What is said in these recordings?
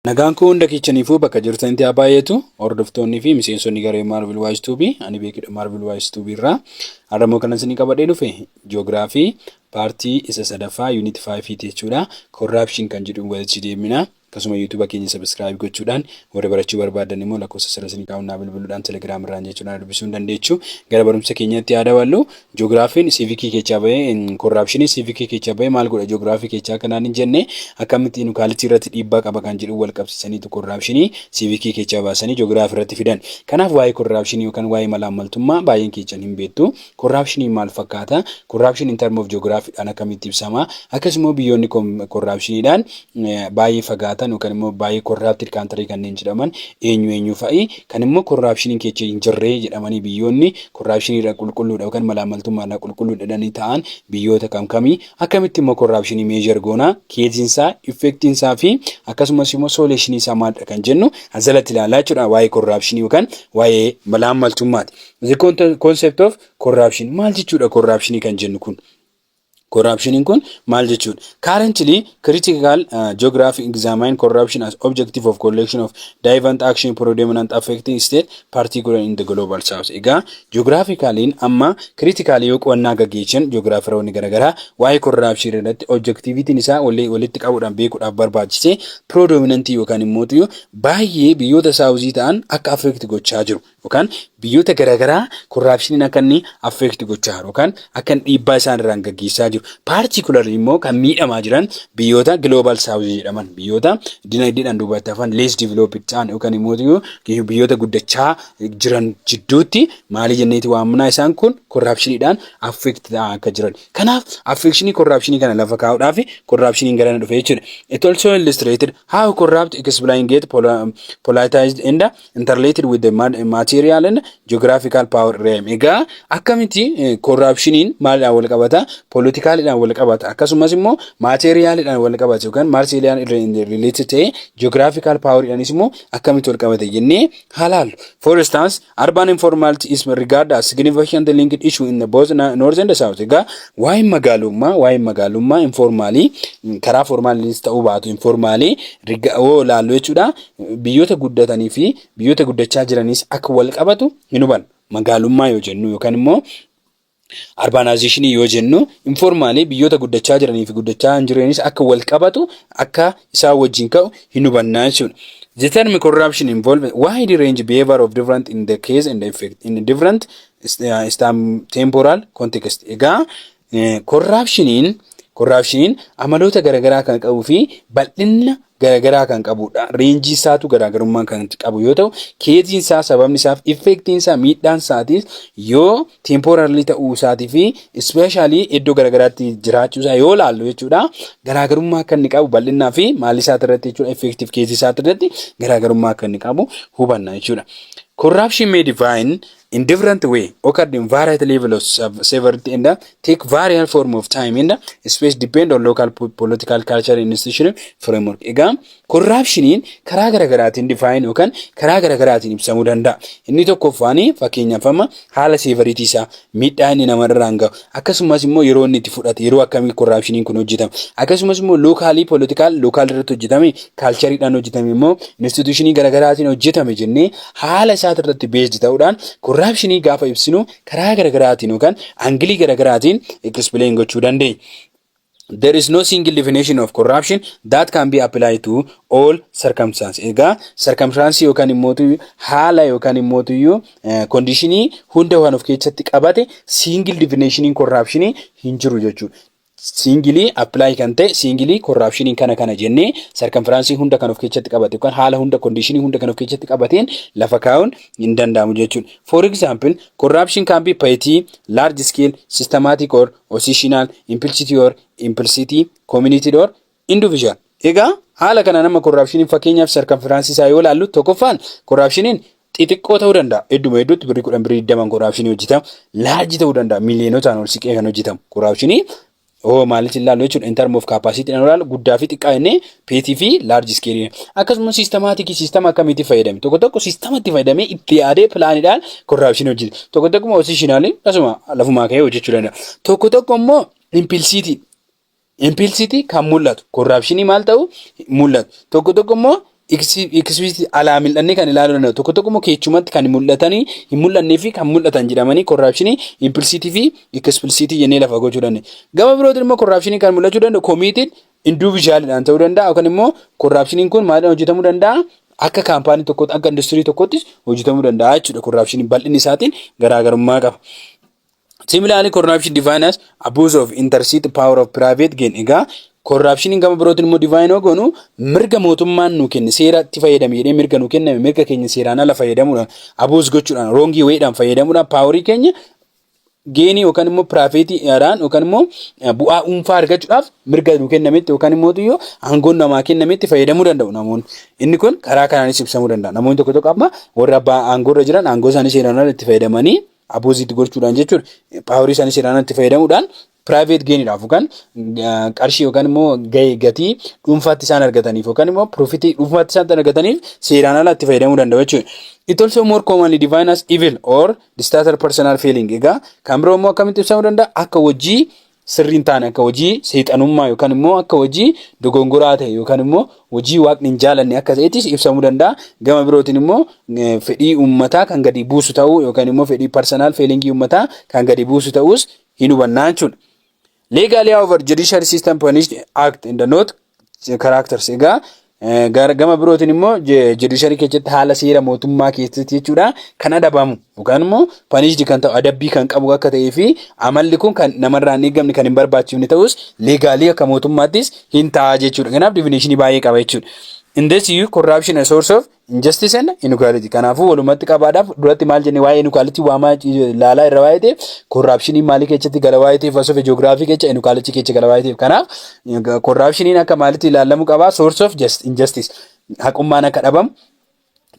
Nagaan koo hunda kiichaniifuu bakka jirtanitti haa baay'eetu hordoftoonni fi miseensonni garee Marvel Wise Tube ani beekidha Marvel Wise Tube irraa har'a immoo kanan isinii qabadhee dhufe ji'oogiraafii paartii isa sadaffaa yuunit 5 ti jechuudha korraapshin kan jedhu walitti deemina akkasuma yuutuuba keenya sabiskiraayib gochuudhaan warri barachuu barbaadan immoo lakkoofsa sirra isinii kaa'uun naa bilbiluudhaan telegiraam irraan jechuudhaan dubbisuu hin dandeechu gara barumsa keenyatti haa daballu Joogiraafiin siivikii keechaa bahee korraapshinii siivikii keechaa bahee maal godha joogiraafii keechaa kanaan hin jenne akkamitti inukaalitii irratti dhiibbaa qaba kan jedhu wal qabsiisaniitu korraapshinii siivikii keechaa baasanii joogiraafii irratti fidan. Kanaaf waa'ee korraapshinii yookaan waa'ee malaammaltummaa baay'een keechan hin beektu. Korraapshiniin maal fakkaata? Korraapshin in term of joogiraafiidhaan akkamitti ibsama? Akkasumoo biyyoonni korraapshiniidhaan baay'ee fagaatan yookaan immoo baay'ee korraaptid kaantarii kanneen jedhaman eenyu eenyu fa'i kan immoo korraapshiniin keecha hin jirree jedhamanii biyyoonni korraapshiniirra qulqulluudha yookaan malaammaltummaarra qulqulluudha jedhanii ta'an biyyoota kam kamii akkamitti immoo korraapshinii meejar goonaa keeziinsaa effektiinsaa fi akkasumas immoo sooleeshiniisaa maaldha kan jennu asalatti ilaalaa jechuudha waa'ee korraapshinii yookaan waa'ee malaammaltummaati. The concept of corruption maal jechuudha korraapshinii kan jennu kun? Corruption kun maal jechuudha? Currently, critical uh, geography examine corruption as objective of collection of divant action predominant affecting state, particular in the global south. Egaa geographicaliin amma critical yoo qo'annaa gaggeessan geographiroonni garaagaraa waa'ee corruption irratti objectivitiin isaa walitti qabuudhaan beekuudhaaf barbaachise predominant yookaan immoo baay'ee biyyoota saawuzii ta'an akka affect gochaa jiru. yookaan biyyoota garaagaraa korraapshiniin akka inni affeekti gochaa jiru yookaan akka inni dhiibbaa isaan irraan gaggeessaa jiru paartikularri immoo kan miidhamaa jiran biyyoota global south jedhaman biyyoota dinagdeedhaan duubatti hafan lees developed ta'an yookaan immoo biyyoota guddachaa jiran jidduutti maalii jenneeti waamnaa isaan kun korraapshiniidhaan affeekti ta'aa akka jiran kanaaf affeekshinii korraapshinii kana lafa kaa'uudhaaf korraapshiniin garana dhufe jechuudha it also illustrated how corrupt explain get poli- politicized and interrelated with the ma- material and geographical power realm egaa akkamitti korraapshiniin maalidhaan wal qabata poolitikaaliidhaan wal qabata akkasumas immoo maateeriyaaliidhaan wal qabata yookaan maateeriyaan rileetii ta'e geographical power'idhaanis immoo akkamitti wal qabata jennee halaallu for instance urban informality is regard as significant linked issue in the both na- north and south egaa waa'een magaalummaa waa'een magaalummaa informaalii karaa formaaliis ta'uu baatu informaalii riga oo laallu jechuudha Biyyoota guddatanii fi biyyoota guddachaa jiraniis akka wal qabatu hin hubanna. Magaalummaa yoo jennu yookaan immoo arbaanaayizeeshinii yoo jennu informaalii biyyoota guddachaa jiranii fi guddachaa hin jiraniis akka wal qabatu akka isaa wajjin ka'u hin hubannaa jechuudha. The term corruption involves wide range behavior of different in the case and effect in different uh, temporal context. Egaa Korraapshiniin korraapshiniin amaloota garaagaraa kan qabuu fi bal'inna garaagaraa kan qabudha. Reenjii isaatu garaagarummaa kan qabu yoo ta'u, keeziin isaa sababni isaaf effeektiin isaa miidhaan isaatis yoo teempooraalii ta'uu isaatii fi ispeeshaalii iddoo garaagaraatti jiraachuu isaa yoo laallu jechuudha. Garaagarummaa akka inni qabu bal'innaa fi maalii isaati irratti jechuudha effeektiif keezii isaati irratti garaagarummaa akka inni qabu hubanna jechuudha. Korraapshin mee divaayin in different way occurred in variety level of sev- severity and uh, take variant form of time and uh, space depend on local po- political culture and institutional framework. Egaa korraapshiniin karaa garaagaraatiin difaayin yookaan karaa garaagaraatiin ibsamuu danda'a. Inni tokkoffaan fakkeenyaaf amma haala seevariitii isaa miidhaa inni namarraan gahu Akkasumas immoo yeroo inni itti fudhate yeroo akkamii korraapshiniin kun hojjetame akkasumas immoo lookaalii poolitikaal lookaal irratti hojjetame kaalchariidhaan hojjetame immoo instituushinii garaagaraatiin hojjetame jennee haala isaati irratti beesdi ta'uudhaan korraapshinii gaafa ibsinu karaa garaagaraatiin yookaan angilii garaagaraatiin ekispileen gochuu dandeenya. There is no single definition of corruption that can be applied to all circumstances. Egaa circumstances yookaan immoo haala yookaan immoo iyyuu conditionii hunda waan of keessatti qabate single definition corruption hin jiru jechuudha. Singilii apply kan ta'e singilii corruption kana kana jennee circumstances hunda kan of keessatti qabate yookaan haala hunda conditionii hunda kan of keessatti qabateen lafa kaa'uun hin danda'amu jechuudha. For example, corruption can be petty, large scale, systematic or positional, implicity or implicity, community or individual. Egaa haala kanaan amma korraapshiniin fakkeenyaaf sarkanfiraansii isaa yoo ilaallu tokkoffaan korraapshiniin xixiqqoo ta'uu danda'a. Hedduma hedduutti birrii kudhan birrii digdaman korraapshinii hojjetama. Laarji ta'uu danda'a. Miiliyonotaan ol siqee kan hojjetamu korraapshinii hoo maalitti ilaallu jechuudha. In term of capacity dhaan ilaallu guddaa fi xiqqaa jennee Peetii fi laarji iskeelii. Akkasumas siistemaatikii siistema akkamiitti fayyadame? Tokko tokko siistematti fayyadamee itti yaadee pilaanidhaan korraapshinii hojjete. Tokko tokko immoo osiishinaalii asuma lafumaa ka'ee hojjechuu danda'a. Tokko tokko immoo impilsiitii. Impilsiitii kan mul'atu korraapshinii maal ta'u mul'atu. Tokko tokko immoo ikisibiitii alaa mil'annee kan ilaaluu danda'u. Tokko tokko immoo keechumatti kan mul'atanii hin mul'annee fi kan mul'atan jedhamanii korraapshinii impilsiitii fi ikisibilsiitii jennee lafa gochuu dandeenya. Gama birootiin immoo korraapshinii kan mul'achuu danda'u komiitiin Induvijaaliidhaan ta'uu danda'a yookaan immoo korraapshiniin kun maaliidhaan hojjetamuu danda'a? Akka kaampaanii tokkootti, akka industirii tokkoottis hojjetamuu danda'a jechuudha. Korraapshiniin bal'inni isaatiin garaagarummaa qaba. Similaarly, corruption defined as abuse of intercity power of private gain. Egaa korraapshiniin gama birootiin immoo divine yoo goonu mirga mootummaan nu kenne seeratti fayyadame jedhee mirga nu kenname mirga keenya seeraan ala fayyadamuudhaan abuus gochuudhaan roongii wayiidhaan fayyadamuudhaan paaworii keenya geenii yookaan immoo piraafeetii irraan yookaan immoo bu'aa dhuunfaa argachuudhaaf mirga nuu kennametti yookaan immoo yoo aangoon namaa kennametti fayyadamuu danda'u namoonni. Inni kun karaa kanaanis ibsamuu danda'a. Namoonni tokko tokko amma warri abbaa aangoo irra jiran aangoo isaanii seeraan ala itti fayyadamanii abuuziitti gochuudhaan jechuudha. Paaworii isaanii seeraan ala itti fayyadamuudhaan private gain dhaaf yookaan qarshii yookaan immoo gahee gatii dhuunfaatti isaan argataniif yookaan immoo profit dhuunfaatti isaan argataniif seeraan ala itti fayyadamuu danda'u jechuudha. It also more commonly defined as evil or disaster personal feeling. Egaa kan biroo immoo akkamitti ibsamuu danda'a? Akka hojii sirriin taane akka hojii seexanummaa yookaan immoo akka hojii dogongoraa ta'e yookaan immoo hojii waaqni hin jaalanne akka ta'ettis ibsamuu danda'a. Gama birootiin immoo fedhii uummataa kan gadi buusu ta'uu yookaan immoo fedhii parsanal feelingii uummataa kan gadi buusu ta'uus hin hubannaa jechuudha. Legally however judiciary system punished act in the note characters egaa eh, gara- gama birootiin immoo je- judiciary keessatti haala seera mootummaa keessatti jechuudha kan adabamu yookaan immoo punished kan ta'u adabbii kan qabu akka ta'ee fi amalli kun kan namarraa hin eegamne kan hin barbaachifne ta'us legally akka mootummaattis hin ta'a jechuudha. Kanaaf definition baay'ee qaba jechuudha. In this you corruption a source of Injustice and inequality. Kanaafuu walumatti qabaadhaaf duratti maal jennee waa'ee inequality waamaa laalaa irra waa'ee ta'eef korraapshiniin maalii keessatti gala waa'ee ta'eef asoof ji'oogiraafii keessa inequality keessa gala waa'ee ta'eef kanaaf korraapshiniin akka maalitti ilaalamu qabaa source of just injustice haqummaan akka dhabamu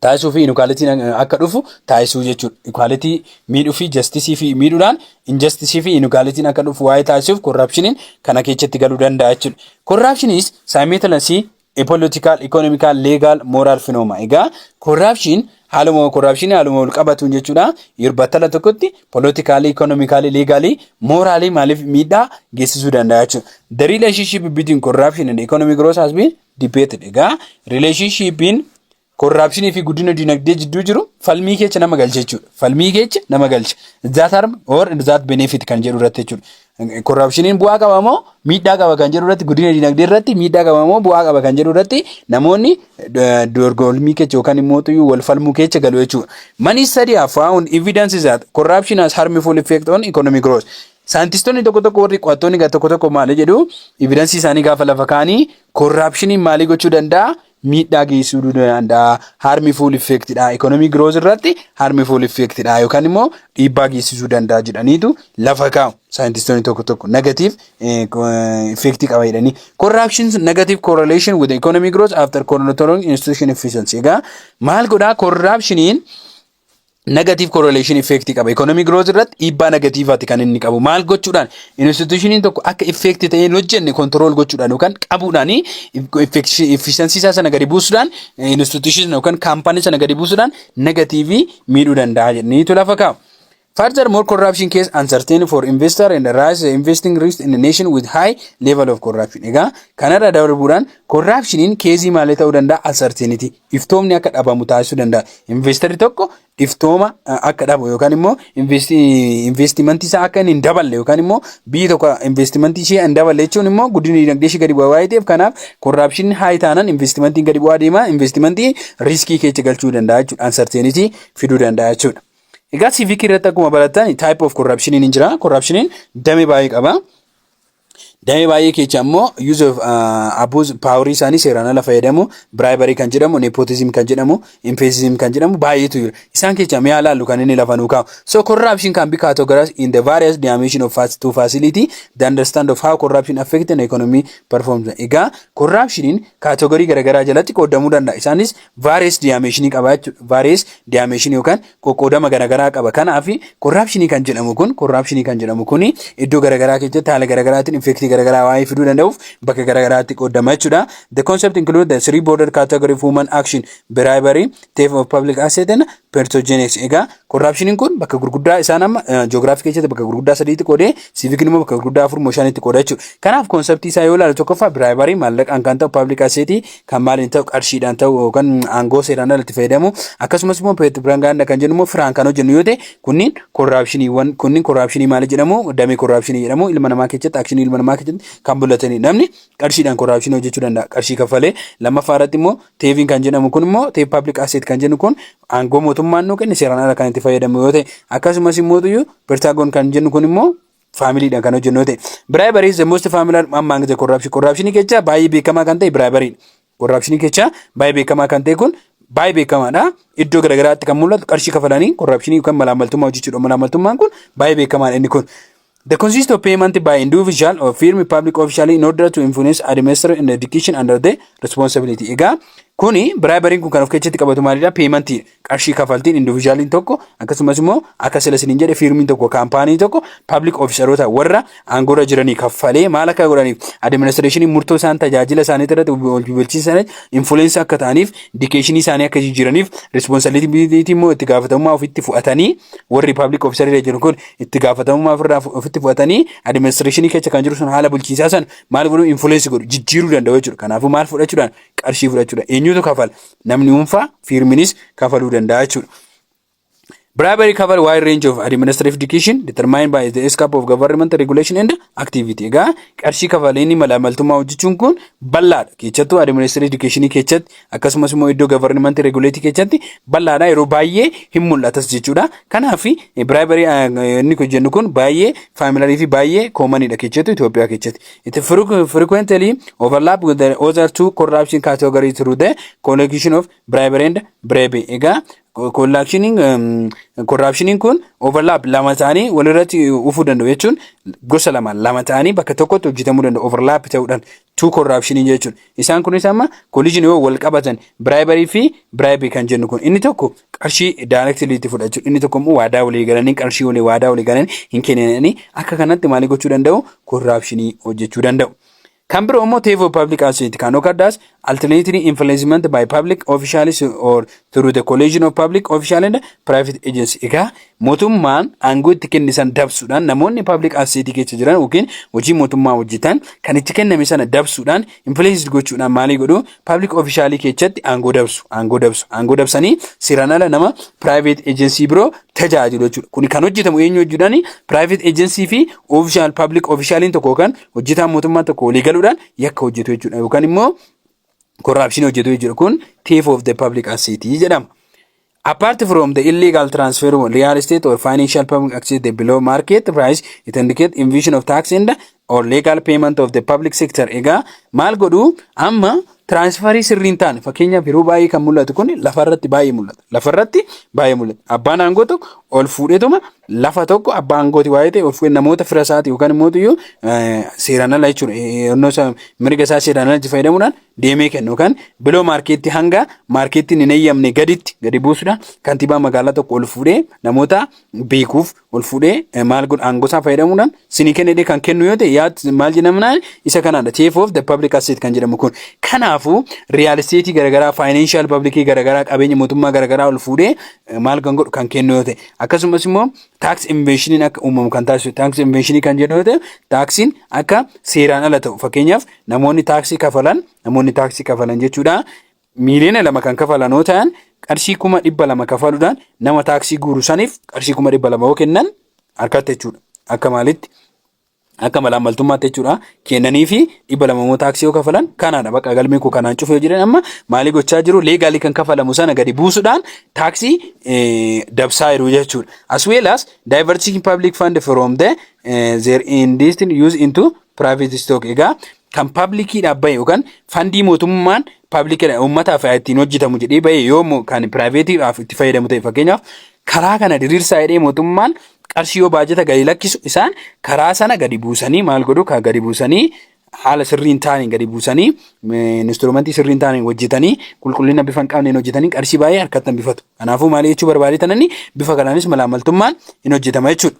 taasisuu fi inequality akka dhufu taasisuu jechuudha. Equality miidhuu fi justice fi miidhuudhaan injustice fi inequality akka dhufu waa'ee taasisuuf korraapshiniin kana keessatti galuu danda'a jechuudha. Korraapshiniis saayimeetilasii A political, economical, legal, moral phenomena. Egaa corruption haaluma corruption haaluma wal qabatuun jechuudha. Yeroo battala tokkotti politically, economically, legally, morally maaliif miidhaa geessisuu danda'a jechuudha. The relationship between corruption and economic growth has been debated. Egaa relationshipin Korraapshinii fi guddina dinagdee jidduu jiru falmii keecha nama galcha jechuudha. Falmii keecha nama galcha. That harm or that benefit kan jedhu irratti jechuudha. Korraapshiniin bu'aa qaba moo miidhaa qaba kan jedhu irratti guddina dinagdee irratti miidhaa qaba moo bu'aa qaba kan jedhu irratti namoonni dorgolmii keecha yookaan immoo tuyyuu wal falmuu keecha galu jechuudha. Many studies have found evidence that corruption has harmful effect on economic growth. Saayintistoonni tokko tokko warri qo'attoonni tokko tokko maal jedhu evidensii isaanii gaafa lafa kaanii korraapshiniin maalii gochuu danda'a miidhaa geessisuu ni danda'a. Harmi fuul effeektidha. Ikoonomii girooz irratti harmi fuul effeektidha yookaan immoo dhiibbaa geessisuu danda'a jedhaniitu lafa kaa'u. Saayintistoonni tokko tokko negatiif effeektii qaba jedhanii. Corruption negative correlation with economic growth after controlling institution efficiency. Egaa maal godhaa corruptioniin negative correlation effect qaba. Economic growth irratti dhiibbaa negatiivaati kan inni qabu. Maal gochuudhaan institutioniin tokko akka effect ta'ee hin hojjenne control gochuudhaan yookaan qabuudhaan efficiency isaa sana gadi buusuudhaan institution yookaan kaampaanii sana gadi buusuudhaan negatiivii miidhuu danda'a jedhaniitu lafa kaa'u. Furthermore, corruption case uncertain for investor and rise the investing risk in a nation with high level of corruption. Egaa kanarra darbuudhaan corruptioniin keezii maalii ta'uu danda'a uncertainty iftoomni akka dhabamu taasisuu danda'a. Investarri tokko iftooma akka dhabu yookaan immoo investimentii isaa akka hin daballe yookaan immoo biyyi tokko investimentii ishee hin daballe jechuun immoo guddina dinagdee ishee gadi bu'aa waa'ee ta'eef kanaaf korraapshinni haayii taanaan investimentiin gadi bu'aa deema investimentii riiskii keessa galchuu danda'a jechuudha uncertainty fiduu danda'a jechuudha. Egaa civic irratti akkuma barattan type of corruption hin jira corruption damee baay'ee qaba. Damee baay'ee keecha ammoo use of uh, abuse paaworii isaanii seeraan ala fayyadamu bribery kan jedhamu nepotism kan jedhamu emphasis kan jedhamu baay'eetu jira isaan keecha mi'a laallu kan inni lafa nuu kaa'u so corruption can be categorized in the various dimension of fac- to facility the understand of how corruption affect an economy performs egaa corruptioniin kaatoogorii garaagaraa jalatti qoodamuu danda'a isaanis various dimension qaba jechuudha various dimension yookaan qoqqoodama garagaraa qaba. Kanaaf korraapshinii kan jedhamu kun korraapshinii kan jedhamu kun iddoo garagaraa keessatti haala garagaraatiin effektii garagaraa waa'ee fiduu danda'uuf bakka garagaraatti qoodama jechuudha. The concept include the three border category of human action bribery, theft of public asset and pertogenex. Egaa korraapshiniin kun bakka gurguddaa isaan amma ji'oogiraafii keessatti bakka gurguddaa sadiitti qoodee siivikiin immoo bakka gurguddaa afur moo shanitti qooda jechuudha. Kanaaf konseptii isaa yoo ilaalu tokkoffaa biraayibarii maallaqaan kan ta'u paablik aseetii kan maaliin ta'u qarshiidhaan ta'u yookaan aangoo seeraan alatti fayyadamu akkasumas immoo piropaagaandaa kan jennu immoo firaan kan hojjennu yoo ta'e kunniin korraapshiniiwwan kunniin korraapshinii maali jedhamu damee korraapshinii jedhamu ilma namaa keessatti akshinii ilma namaa keessatti kan mul'atanii namni qarshiidhaan korraapshinii hojjechuu danda'a qarshii kaffalee lammaffaa irratti immoo teeviin kan jedhamu kun immoo teep paablik aseet kan jennu kun aangoo mootummaan nuu kenne seeraan ala kan itti fayyadamu yoo ta'e akkasumas immoo tuyyuu pirtaagoon kan jennu kun immoo faamiliidhaan kan hojjennu yoo ta'e. Biraayibarii is the most familiar among the corruption. Corruption kecha baay'ee beekamaa kan ta'e biraayibarii. Corruption kecha baay'ee beekamaa kan ta'e kun baay'ee beekamaadha. Iddoo garaagaraatti kan mul'atu qarshii kafalanii corruption yookaan malaammaltummaa hojjechuudha. Malaammaltummaan kun baay'ee beekamaadha inni kun. The consist of payment by individual or firm public official in order to influence administration and education under the responsibility. Egaa kuni biraayibariin kun kan of keessatti qabatu maalidha? Payment qarshii kafaltiin individualiin tokko akkasumas immoo akka sila isiniin jedhe fiirmiin tokko kaampaanii tokko pabliik ofiisaroota warra aangoorra jiranii kaffalee maal akka godhaniif adiministireeshiniin murtoo isaan tajaajila isaanii irratti bulchiinsa infuleensii akka ta'aniif dikeeshinii isaanii akka jijjiiraniif rispoonsabiliitii immoo itti gaafatamummaa ofitti fudhatanii warri pabliik ofiisarii jiran kun itti gaafatamummaa ofirraa ofitti fudhatanii adiministireeshinii keessa kan jiru sun haala bulchiinsaa san maal godhu infuleensii godhu jijjiiruu danda'u jechuudha kanaafuu maal fudhachuudhaan qarshii fudhachuudhaan eenyutu kafala namni dhuunfaa fiirminis kafaluu danda'a jechuudha. Bribery cover wide range of administrative education determined by the scope of government regulation and activity. Egaa qarshii kafaleen malaamaltummaa hojjechuun kun bal'aadha. Keessattuu administrative education keessatti akkasumas immoo iddoo government regulate keessatti bal'aadha yeroo baay'ee hin mul'atas jechuudha. Kanaaf bribery inni jennu kun baay'ee faamilarii fi baay'ee koomanidha keessattuu Itoophiyaa keessatti. It frequ- frequently overlap with the other two corruption category through the collection of bribery and bribe. Egaa kollaakshiniin korraapshiniin kun overlap lama ta'anii walirratti ufuu danda'u jechuun gosa lama lama ta'anii bakka tokkotti hojjetamuu danda'u overlap ta'uudhaan two korraapshinii jechuun isaan kunis amma collision yoo wal qabatan bribery fi bribe kan jennu kun inni tokko qarshii directly itti fudhachu inni tokko immoo waadaa walii galanii qarshii walii waadaa walii galanii hin kenninanii akka kanatti maalii gochuu danda'u korraapshinii hojjechuu danda'u. Kan biroo immoo teef of public asset kan okaddaas alternately influencement by public officials or through the collision of public official and private agency. Egaa mootummaan aangoo itti kenne san dabsuudhaan namoonni public asset keessa jiran yookiin hojii mootummaa hojjetan kan itti kenname sana dabsuudhaan influenced gochuudhaan maalii godhu public officialii keessatti aangoo dabsu aangoo dabsu aangoo dabsanii seeraan ala nama private agency biroo tajaajilu jechuudha kun kan hojjetamu eenyu hojjechuudhaan private agency fi official public officialiin tokko yookaan hojjetaan mootummaa tokko walii galuudhaan yakka hojjetu jechuudha yookaan immoo corruption hojjetu jechuudha kun thief of the public asset jedhama. Apart from the illegal transfer of real estate or financial public access, the below market price, it indicates invasion of tax and or legal payment of the public sector. Egaa maal godhu amma tiraansfarii sirriin taane fakkeenyaaf yeroo baay'ee kan mul'atu kun lafarratti baay'ee mul'ata. Lafarratti baay'ee mul'ata. Abbaan aangoo tokko ol fuudheetuma lafa tokko abbaa aangooti waa'ee ta'e ol fuudhee namoota fira isaati yookaan immoo iyyuu seeraan ala jechuudha. Yennoo isaa mirga isaa seeraan ala itti fayyadamuudhaan deemee kennu yookaan biloo maarkeetti hanga maarkeettiin hin eeyyamne gaditti gadi buusudha. Kantiibaa magaalaa tokko ol fuudhee namoota beekuuf ol fuudhee maal godha aangosaa fayyadamuudhaan sinii kennedee kan kennu yoo ta'e yaad maal jedhamunaan isa kanaadha. Chief of the public asset kan jedhamu kun. Kanaafuu riyaal isteetii garaagaraa faayinaanshaal paablikii garaagaraa qabeenya mootummaa garaagaraa ol fuudhee maal kan godhu kan kennu yoo ta'e akkasumas immoo taaksii inveeshiniin akka uumamu kan taasisu taaksii inveeshinii kan jedhu yoo ta'e taaksiin akka seeraan ala ta'u fakkeenyaaf Namoonni taaksii kafalan namoonni taaksii kafalan jechuudha. Miiliyoona lama kan kafalan yoo ta'an qarshii kuma dhibba lama kafaluudhaan nama taaksii guuru saniif qarshii kuma dhibba lama yoo kennan harkatti jechuudha. Akka maalitti akka malaan maltummaatti jechuudha. Kennanii fi dhibba lama immoo taaksii yoo kafalan kanaadha bakka galmee koo kanaan cufee jiran amma maalii gochaa jiru leegaalii kan kafalamu sana gadi buusuudhaan taaksii eh, dabsaa jiru jechuudha. As well as diverting public fund from the eh, their intended use into Private stock egaa kan pablikiidhaaf bahe yookaan fandii mootummaan pablikiidha uummataaf ittiin hojjetamu jedhee bahe yoo mo- kan piraayiveetiidhaaf itti fayyadamu ta'e fakkeenyaaf karaa kana diriirsaa jedhee mootummaan qarshii yoo baajata gadi lakkisu isaan karaa sana gadi buusanii maal godhu kan gadi buusanii haala sirriin taaniin gadi buusanii eh, instrumentii sirriin taaniin hojjetanii qulqullina bifa hin qabneen hojjetanii qarshii baay'ee harkatti hambifatu. Kanaafuu maal jechuu barbaadee tananni bifa kanaanis malaamaltummaan hin hojjetama jechuudha.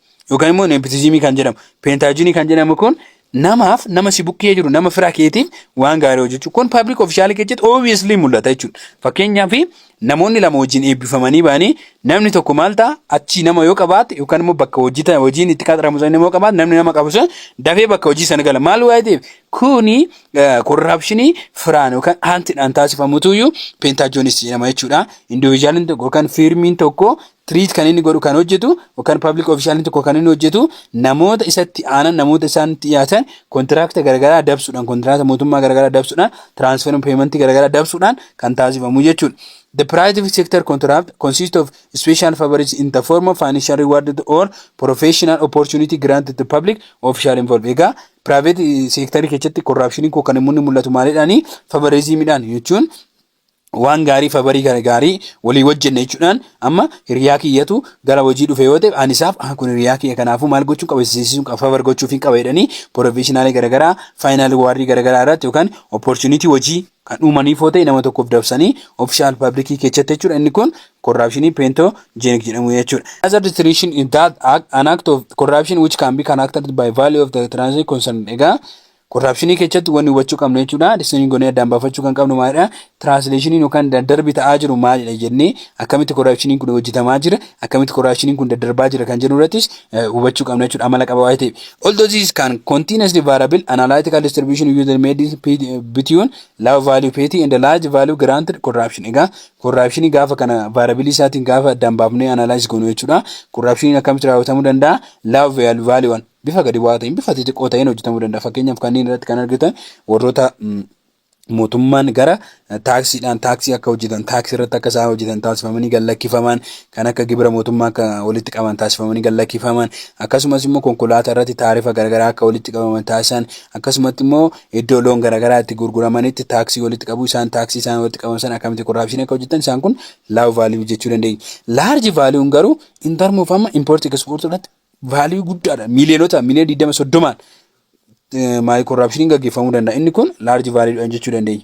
yookaan immoo neepotizimii kan jedhamu peentaajinii kan jedhamu kun namaaf nama si bukkee jiru nama firaa keetiif waan gaarii hojjechuu kun paablik ofishaalii keessatti obviously mul'ata jechuudha fakkeenyaaf namoonni lama wajjin eebbifamanii ba'anii namni tokko maal ta'a achii nama yoo qabaate yookaan immoo bakka hojii ta'e hojiin itti qaxaramu sana nama yoo qabaate namni nama qabu sun dafee bakka hojii sana gala maal waa'ee ta'eef kuni korraapshinii firaan yookaan haantiidhaan taasifamutuyyuu peentaajoonis jedhama jechuudha indiviijuwaaliin tokko yookaan fiirmiin tokko treat kan inni godhu kan hojjetu yookaan public official tokko kan inni hojjetu namoota isatti aanan namoota isaanitti dhiyaatan kontiraakta garagaraa dabsuudhaan kontiraakta mootummaa garagaraa dabsuudhaan transfer payment garagaraa dabsuudhaan kan taasifamu jechuudha. The private sector contract consists of special favors in the form of financial reward or professional opportunity granted to public official involved. Egaa private sector keessatti corruption koo kan immoo mul'atu maalidhaani favorismidhaan jechuun waan gaarii fabarii gara gaarii walii wajjenne jechuudhaan amma hiriyaa kiyyatu gara hojii dhufe yoo ta'e ani isaaf ah kun hiriyaa kiyya kanaafuu maal gochuun qaba isiisiisuun qaba fabar gochuuf hin qaba jedhanii poroofeeshinaalii garagaraa faayinaal waarrii garagaraa irratti yookaan opportunity hojii kan uumaniif yoo ta'e nama tokkoof dabsanii ofishaal paablikii keessatti jechuudha inni kun corruptionii peentoo jeenik jedhamu jechuudha. Another distinction is that act, an act of corruption which can be characterized by value of the transaction concerned egaa Korraapshinii keessatti wanni hubachuu qabnu jechuudha. Distinii gonee addaan baafachuu kan qabnu maalidha? Tiraansileeshiniin yookaan daddarbi ta'aa jiru maalidha jennee akkamitti korraapshiniin kun hojjetamaa jira? Akkamitti korraapshiniin kun daddarbaa jira kan jedhu irrattis hubachuu qabna jechuudha amala qaba waa'ee ta'e. Although this is can continuously variable analytical distribution user made is between low value petty and large value granted corruption. Egaa korraapshinii gaafa kana vaarabilii isaatiin gaafa addaan baafnee analyze goonu jechuudha. Korraapshiniin akkamitti raawwatamuu danda'a? Low value one. bifa gadi bu'aa ta'een bifa xixiqqoo ta'een hojjetamuu danda'a. Fakkeenyaaf kanneen irratti kan argitan warroota mm, mootummaan gara eh, taaksiidhaan taaksii akka hojjetan taaksii irratti akka isaan hojjetan taasifamanii gad lakkifaman kan akka gibira mootummaa akka walitti qaban taasifamanii gad lakkifaman akkasumas immoo konkolaataa irratti taarifa garaagaraa akka walitti qabaman taasisan akkasumatti immoo iddoo loon garaagaraa itti gurguramanitti taaksii walitti qabu isaan taaksii isaan walitti qaban sana akkamitti korraapshinii akka hojjetan isaan kun laaw vaaliyuu jechuu dandeenya. Laarji vaaliyuun garuu intarmuuf amma impoortii ekspoortii irratti vaaliyuu guddaadha. Miiliyoonota miiliyoona digdama soddomaan maayi korraapshiniin gaggeeffamuu danda'a. Inni kun laarji vaaliyuudhaan jechuu dandeenya.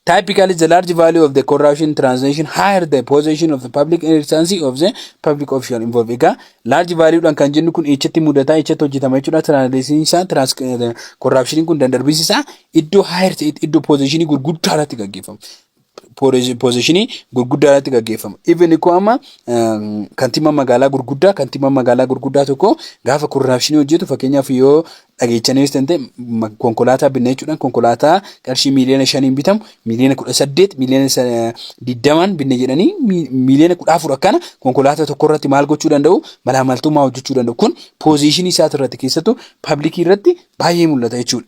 Typically the large value of the corruption transaction higher the position of the public instancy of the public official involved. Egaa laarji vaaliyuudhaan kan jennu kun eechatti mudataa eechatti hojjetama jechuudha. Transaction isaa korraapshiniin kun dandarbiinsi isaa iddoo higher ta'etti iddoo positionii gurguddaa irratti gaggeeffama. poozishinii gurguddaa irratti gaggeeffama. Even ikkoo amma kantiibaa magaalaa gurguddaa kantiibaa magaalaa gurguddaa tokko gaafa korraapshinii hojjetu fakkeenyaaf yoo dhageechaniis ta'e konkolaataa binna jechuudhaan konkolaataa qarshii miiliyoona shaniin bitamu miiliyoona kudha saddeet miiliyoona digdamaan binna jedhanii miiliyoona kudha afur akkana konkolaataa tokko irratti maal gochuu danda'u malaamaltummaa hojjechuu danda'u kun poozishinii isaati irratti keessattuu paablikii irratti baay'ee mul'ata jechuudha.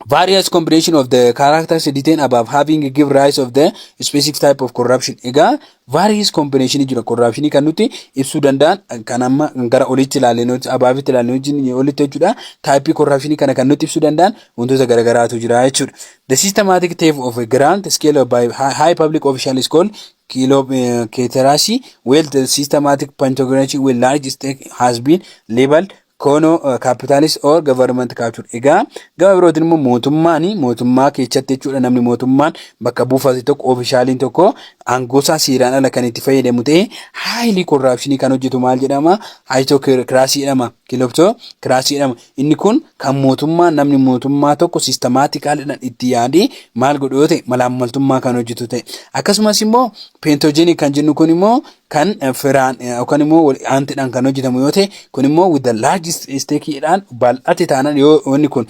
various combination of the characters written above having give rise of the specific type of corruption egaa various combination jira corruption kan nuti ibsuu danda'an kan amma gara olitti ilaalleen hojii abaafitti ilaalleen hojii olitti jechuudha type corruption kana kan nuti ibsuu danda'an wantoota garagaraatu jira jechuudha the systematic theft of a grand scale of by hi- high public official is called kilo uh, keterasi where the systematic pantography with large stake has been labeled Kono capitalist or government culture. Egaa gama birootiin immoo mootummaan mootummaa keessatti jechuudha namni mootummaan bakka buufate tokko oofishaaliin tokko aangoosaa seeraan ala kan itti fayyadamu ta'e haayilii korraapshinii kan hojjetu maal jedhama haayitoo kiraasii jedhama kilobtoo kiraasii jedhama inni kun kan mootummaa namni mootummaa tokko sistemaatikaaliidhaan itti yaadee maal godhu yoo ta'e malaammaltummaa kan hojjetu ta'e akkasumas immoo peentoojinii kan jennu kun immoo kan firaan yookaan immoo wal aantidhaan kan hojjetamu yoo ta'e kun immoo with the largest stake dhaan bal'ate taanaan yoo wanni kun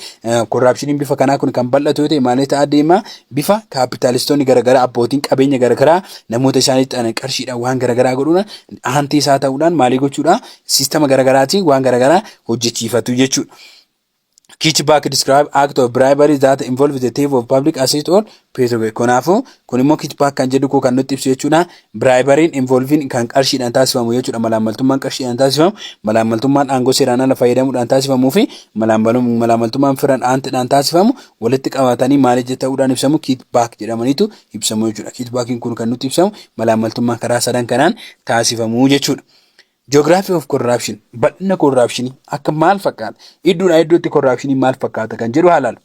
korraapshiniin bifa kanaa kun kan bal'atu yoo ta'e maalee ta'aa deema bifa kaapitaalistoonni garaagaraa abbootiin qabeenya garaagaraa namoota isaaniitti aanan qarshiidhaan waan garaagaraa godhuudhaan aantii isaa ta'uudhaan maalii gochuudhaan siistama garaagaraatiin waan garaagaraa hojjechiifatu jechuudha. kickback describe act of bribery that involve the thief of public assist or pay kanaafuu kun immoo kickback kan jedhu koo kan nutti ibsu jechuudha biraayibariin involviin kan qarshiidhaan taasifamu jechuudha malaammaltummaan qarshiidhaan taasifamu malaammaltummaan aangoo seeraan ala fayyadamuudhaan taasifamuu fi malaammaltummaan firan aantidhaan taasifamu walitti qabatanii maal ija ta'uudhaan ibsamu kickback jedhamaniitu ibsamu jechuudha kickbackiin kun kan nutti ibsamu malaammaltummaa karaa sadan kanaan taasifamu jechuudha. Geography of corruption bal'ina korraapshinii akka maal fakkaata iddoodhaa iddootti korraapshinii maal fakkaata kan jedhu haa ilaalu.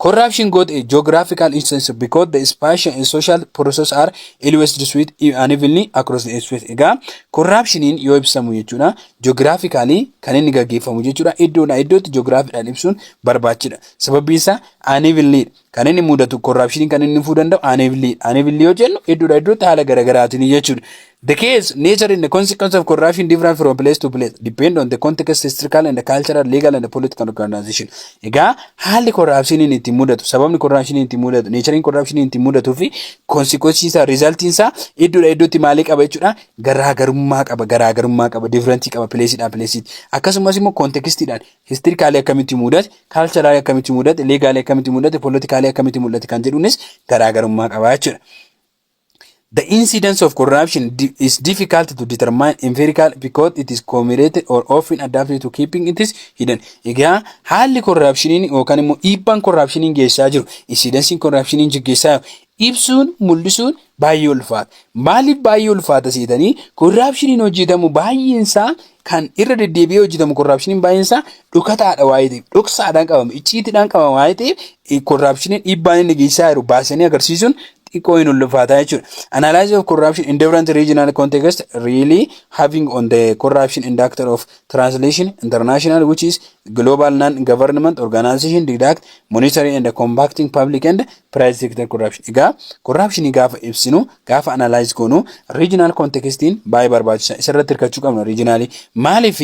Corruption got a geographical instance because the spatial and social processes are always distributed unevenly across the space. Egaa korraapshiniin yoo ibsamu jechuudha geographically kan inni gaggeeffamu jechuudha iddoodhaa iddootti geographiidhaan ibsuun barbaachidha. Sababiin isaa unevenly dha. kan inni mudatu korraapshiniin kan inni fuu danda'u aaneevilii aaneevilii yoo jennu iddoodha iddootti haala garaagaraatiin jechuudha. The case, nature and the consequence of corruption different from place to place depend on the context, historical and cultural, legal and political organization. Egaa haalli korraapshiniin itti mudatu, sababni korraapshiniin itti mudatu, neechariin korraapshiniin itti mudatuu fi konsikwensii isaa, riizaltiin isaa iddoodha iddootti maalii qaba jechuudha garaagarummaa qaba, garaagarummaa qaba, difirentii qaba, pileesiidhaa pileesiitti. Akkasumas immoo kontekestiidhaan Historically akkamitti mudate, culturally akkamitti mudate, legally akkamitti mudate, politically akkamitti mul'ate kan jedhuunis garaagarummaa qaba jechuudha. The incidence of corruption di- is difficult to determine empirical because it is communicated or often adapted to keeping it is hidden. Egaa haalli korraapshiniin yookaan immoo dhiibbaan korraapshiniin geessaa jiru, insidensiin korraapshiniin geggeessaa jiru ibsuun, mul'isuun baay'ee ulfaata. Maaliif baay'ee ulfaata seetanii korraapshiniin hojjetamu baay'eensaa kan irra deddeebi'ee hojjetamu korraapshiniin baay'eensaa dhokataadha waa'ee ta'eef dhoksaadhaan qabama icciitiidhaan qabama waa'ee ta'eef korraapshiniin dhiibbaan inni geessisaa jiru baasanii agarsiisuun xiqqoo hin ulfaataa jechuudha. Analysis of corruption in different regional context really having on the corruption and actor of Translation, International which is global non-government organization didact monitoring and combating public and private sector corruption. Egaa corruption gaafa ibsinu gaafa analyze goonu regional contextiin baay'ee barbaachisa. Isarratti hirkachuu qabna regionally. Maaliif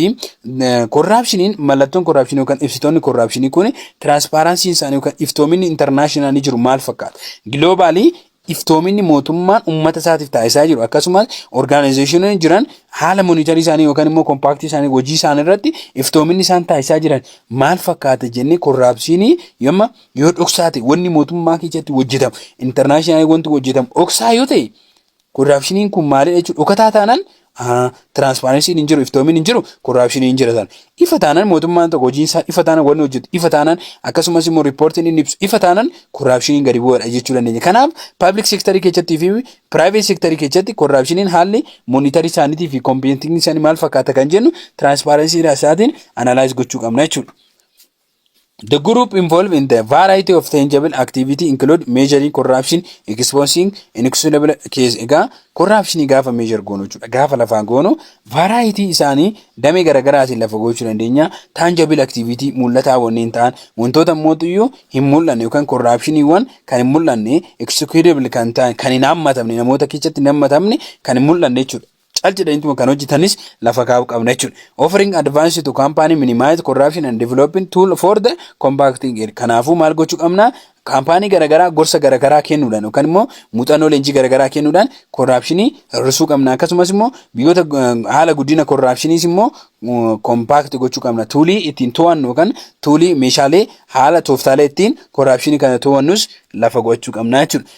corruptioniin mallattoon corruption yookaan ibsitoonni corruption kun transparency isaanii yookaan iftoominni international jiru maal fakkaata? Globally iftoominni mootummaan ummata isaatiif taasisaa jiru akkasumas orgaanayizeeshinoonni jiran haala monitarii isaanii yookaan immoo kompaaktii isaanii hojii isaanii irratti iftoominni isaan taasisaa jiran maal fakkaata jennee korraapsiinii yomma yoo dhoksaa ta'e wanni mootummaa keessatti hojjetamu intarnaashinaali wanti hojjetamu dhoksaa yoo ta'e korraapsiiniin kun maalidha jechuudha dhokataa taanaan Tiraansparensiin hin jiru, iftoomiin hin jiru, korraapshiniin hin jira sana. Ifa taanaan mootummaan tokko hojiin isaa ifa taanaan wanni hojjetu ifa taanaan akkasumas immoo riippoortiin inni ibsu ifa taanaan korraapshiniin gadi bu'aadha jechuu dandeenya. Kanaaf paablik seektarii keessattii fi piraayiveet seektarii keessatti korraapshiniin haalli moonitarii isaaniitii fi kompiitinii isaanii maal fakkaata kan jennu tiraansparensii isaatiin anaalaayiz gochuu qabna jechuudha. The group involved in the variety of tangible activity include measuring corruption, exposing inexcusable case. Egaa corruption gaafa measure goonu jechuudha. Gaafa lafaa goonu variety isaanii damee garaagaraatiin lafa gochuu dandeenya. Tangible activity mul'ataa wanneen ta'an wantoota mootuyyuu hin mul'anne yookaan corruptioniiwwan kan hin mul'anne executable kan ta'an kan hin hammatamne namoota keessatti hin hammatamne kan hin mul'anne jechuudha. cal jedhaniituma kan hojjetanis lafa kaa'uu qabna jechuudha. Offering advance to company minimize corruption and developing tool for the compacting area. Kanaafuu maal gochuu qabna? Kaampaanii garaagaraa gorsa garaagaraa kennuudhaan yookaan immoo muuxannoo leenjii garaagaraa kennuudhaan korraapshinii hir'isuu qabna. Akkasumas immoo biyyoota haala guddina korraapshiniis immoo kompaakti gochuu qabna. Tuulii ittiin to'annu yookaan tuulii meeshaalee haala tooftaalee ittiin korraapshinii kana to'annus lafa gochuu qabna jechuudha.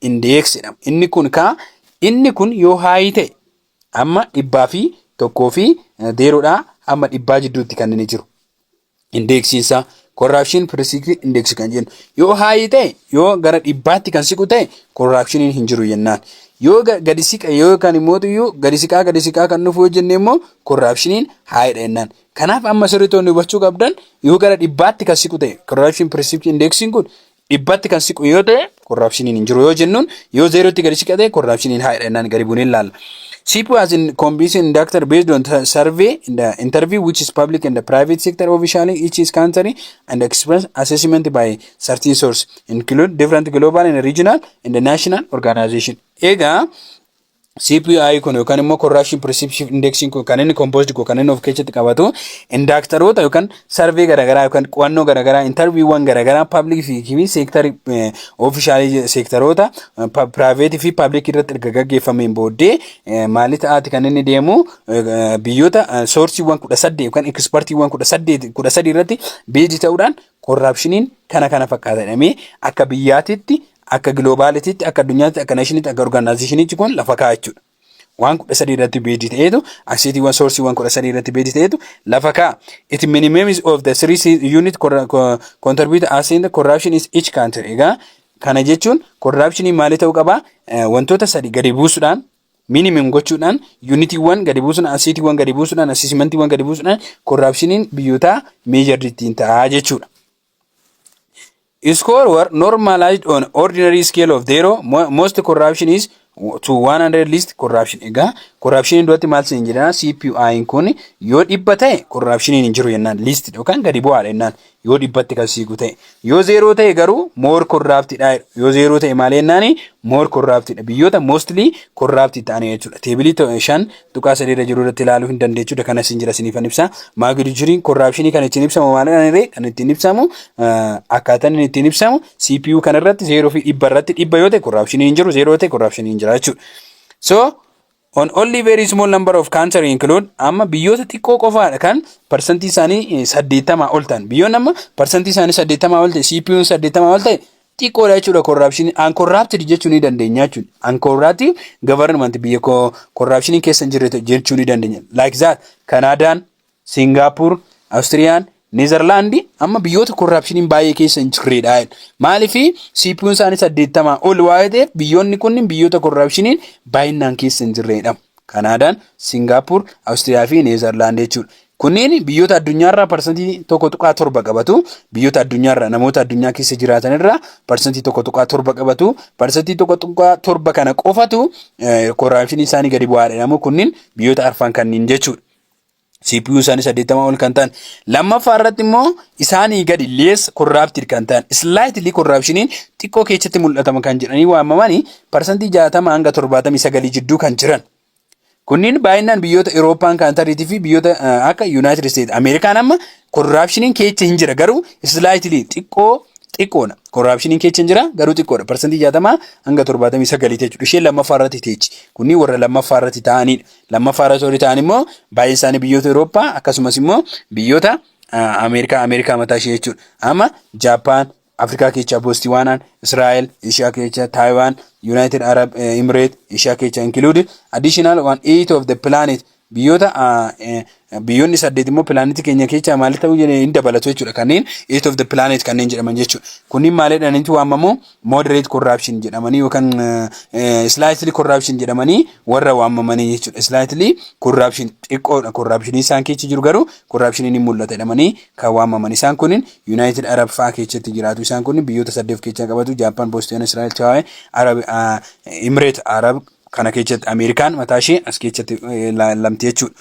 indeeksi jedhama. Inni kun kaa inni kun yoo haayii ta'e amma dhibbaa fi tokkoo fi zeeroodhaa amma dhibbaa jidduutti kan inni jiru. Indeeksiin isaa korraapshin pirisikii indeeksi kan jennu yoo haayii ta'e yoo gara dhibbaatti kan siqu ta'e korraapshiniin hin jiru jennaan. Yoo gadi siqa yoo kan immoo iyyuu gadi siqaa gadi siqaa kan dhufu yoo jenne immoo korraapshiniin haayidha jennaan. Kanaaf amma sirriitoonni hubachuu qabdan yoo gara dhibbaatti kan siqu ta'e korraapshin pirisikii indeeksiin kun dhibbatti kan siqu yoo ta'e korraapshiniin hin jiru yoo jennuun yoo zeerootti gadi siqate korraapshiniin haadha jennaan gadi buunee ilaalla. Sipu as in combination inductor based on the survey in the interview which is public and the private sector officially each is country and expense assessment by certain source include different global and regional and national organization. Egaa CPI kun yookaan immoo Corruption Perception Index kun kan inni composed kun kan inni of keessatti qabatu indaaktaroota yookaan sarvee garaagaraa yookaan qo'annoo garaagaraa intarviiwwan garaagaraa public fi fi seektar oofishaalii seektaroota piraayiveetii fi public irratti erga gaggeeffameen booddee eh, maalii ta'aati kan inni deemu eh, biyyoota eh, soorsiiwwan kudha saddeet yookaan ekspartiiwwan kudha saddeet kudha sadii irratti beezi ta'uudhaan korraapshiniin kana kana fakkaata jedhamee akka biyyaatitti Akka giloobaalitiitti, akka addunyaatti, akka neeshiniitti, akka orgaanaayizeshiniitti kun lafa kaa'a jechuudha. Waan kudha sadii irratti beejii ta'eetu, aksiitiiwwan soorsiiwwan kudha sadii irratti beejii ta'eetu lafa kaa'a. It minimums of the three se- unit corra- co- contribute as in the corruption is each country. Egaa kana jechuun korraapshinii maalii ta'uu qaba? Eh, Wantoota sadi gadi buusuudhaan minimum gochuudhaan yuunitiiwwan gadi buusuudhaan asiitiiwwan gadi buusuudhaan asiisimantiiwwan gadi buusuudhaan korraapshiniin biyyootaa meejarri ittiin ta'a jechuudha. Score were normalized on ordinary scale of zero. Mo- Most corruption is to 100 list corruption. Egaa corruption duratti maal siin jedhana CPI kun yoo dhibba ta'e corruption hin jiru jennaan list yookaan gadi bu'aadha jennaan yoo dhibbatti kan siiqu ta'e. Yoo zeeroo ta'e garuu more corrupt dha. Yoo zeeroo ta'e maal jennaan more corrupt dha. Biyyoota mostly corrupt ta'an jechuudha. Teebilii to- shan tuqaa sadii irra jiru irratti ilaaluu hin dandeechuudha kana isin jira isiniifan ibsa maagidu jiriin korraapshinii kan ittiin ibsamu maalidhaan irree kan ittiin ibsamu akkaataan inni ittiin ibsamu CPU kan irratti zeeroo fi dhibba irratti dhibba yoo ta'e korraapshinii hin jiru zeeroo yoo ta'e korraapshinii hin jira jechuudha. So on only very small number of cancer include amma biyyoota xiqqoo qofaadha kan parsantii isaanii saddeettamaa ol ta'an biyyoonni amma parsantii isaanii saddeettamaa ol ta'e CPU'n saddeettamaa ol ta'e xiqqoodha jechuudha corruption uncorrupted jechuu ni dandeenya jechuudha uncorrupted government biyya corruption keessa hin jirre jechuu ni dandeenya like that Kanaadaan Singapore Austriyaan Netherland amma biyyoota corruption baay'ee keessa hin jirredha maaliif CPUn isaanii saddeettamaa ol waa ta'eef biyyoonni kunniin biyyoota corruption baay'inaan keessa hin jirredha Kanaadaan Singapore Austriyaa fi Netherland jechuudha Kunneen biyyoota addunyaarraa parsantii 1.7 qabatu. Biyyoota addunyaarraa namoota addunyaa keessa jiraatanirraa parsantii 1.7 qabatu. Parsantii 1.7 kana qofatu korraapshinii isaanii gadi bu'aa jedhamu. Kunniin biyyoota arfan kanniin jechuudha. CPU isaanii 80 ol kan ta'an. Lammaffaa irratti immoo isaanii gadi lees korraaptiid kan ta'an. Islaayitili korraapshiniin xiqqoo keessatti mul'atama kan jedhanii waamamanii parsantii 60 hanga 79 jidduu kan jiran. Kunniin baay'inaan biyyoota Irooppaan kaantariitii fi biyyoota akka Yuunaayitid Isteet Ameerikaan amma korraapshiniin keecha hin jira garuu islaayitilii xiqqoo xiqqoodha. Korraapshiniin keecha hin jira garuu xiqqoodha. Parsantii jaatamaa hanga torbaatamii sagalii jechuudha. Isheen lammaffaa irratti teechi. Kunniin warra lammaffaa irratti ta'anidha. Lammaffaa irratti warri ta'an immoo baay'een isaanii biyyoota Irooppaa akkasumas immoo biyyoota Ameerikaa Ameerikaa mataa ishee jechuudha. Amma Jaappaan, Afrikaa keechaa Bostiwaanaan, Israa'el, Eeshiyaa keechaa Taayiwaan, Yuunaayitid Arab Imireet, Eeshiyaa keechaa included, additional one eight of the planet biyyoota biyyoonni saddeet immoo pilaanetii keenya keechaa maal ta'uu hin dabalatu jechuudha kanneen eight of the planet kanneen jedhaman jechuudha. Kunniin maalidhaan inni waamamu moderate corruption jedhamanii yookaan slightly corruption jedhamanii warra waamamanii jechuudha. Slightly corruption xiqqoodha corruption isaan keessa jiru garuu corruption ni mul'ata jedhamanii kan waamaman. Isaan kunniin Yunaayitid Arab fa'a keechatti jiraatu. Isaan kunniin biyyoota saddeet of keechaa qabatu, Jaappaan, Boosteen, Israa'el, Chaawee, Arab, Imireet Arab kana keechatti Ameerikaan mataa ishee as keechatti lamti jechuudha.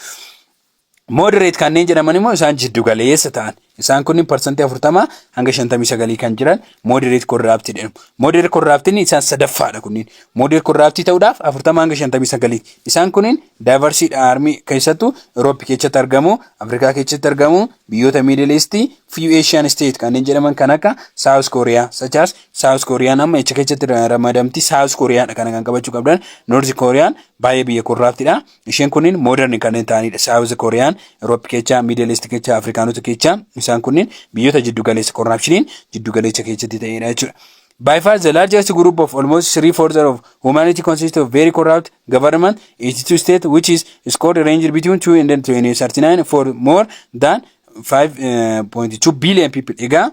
Moderate kanneen jedhaman immoo isaan jiddu galeessa ta'an. Isaan kunniin parsantii afurtama hanga shantamii sagalii kan jiran moderate corrupt jedhamu. Moderate corrupt inni isaan sadaffaadha kunniin. Moderate corrupt ta'uudhaaf 40 hanga 59. Isaan kunniin diverse dha armii keessattuu Europe keessatti argamu, Afrikaa keessatti argamu, biyyoota Middle East, few Asian state kanneen jedhaman kan akka South Korea, such as South Korean amma echa keessatti ramadamti South Korea dha kana kan qabachuu qabdan. North Korean baay'ee biyya corrupt dha. Isheen kunniin modern kanneen ta'anidha. South Korea, Europe kecha, Middle East kecha, Afrikaanota kecha. Isaan kunniin biyyoota jiddu galeessa corruptioniin jiddu galeessa keessatti ta'edha jechuudha. By far the largest group of almost three fourths of humanity consists of very corrupt government, 82 state which is scored ranged between 2 and 39 for more than 5.2 billion people. Egaa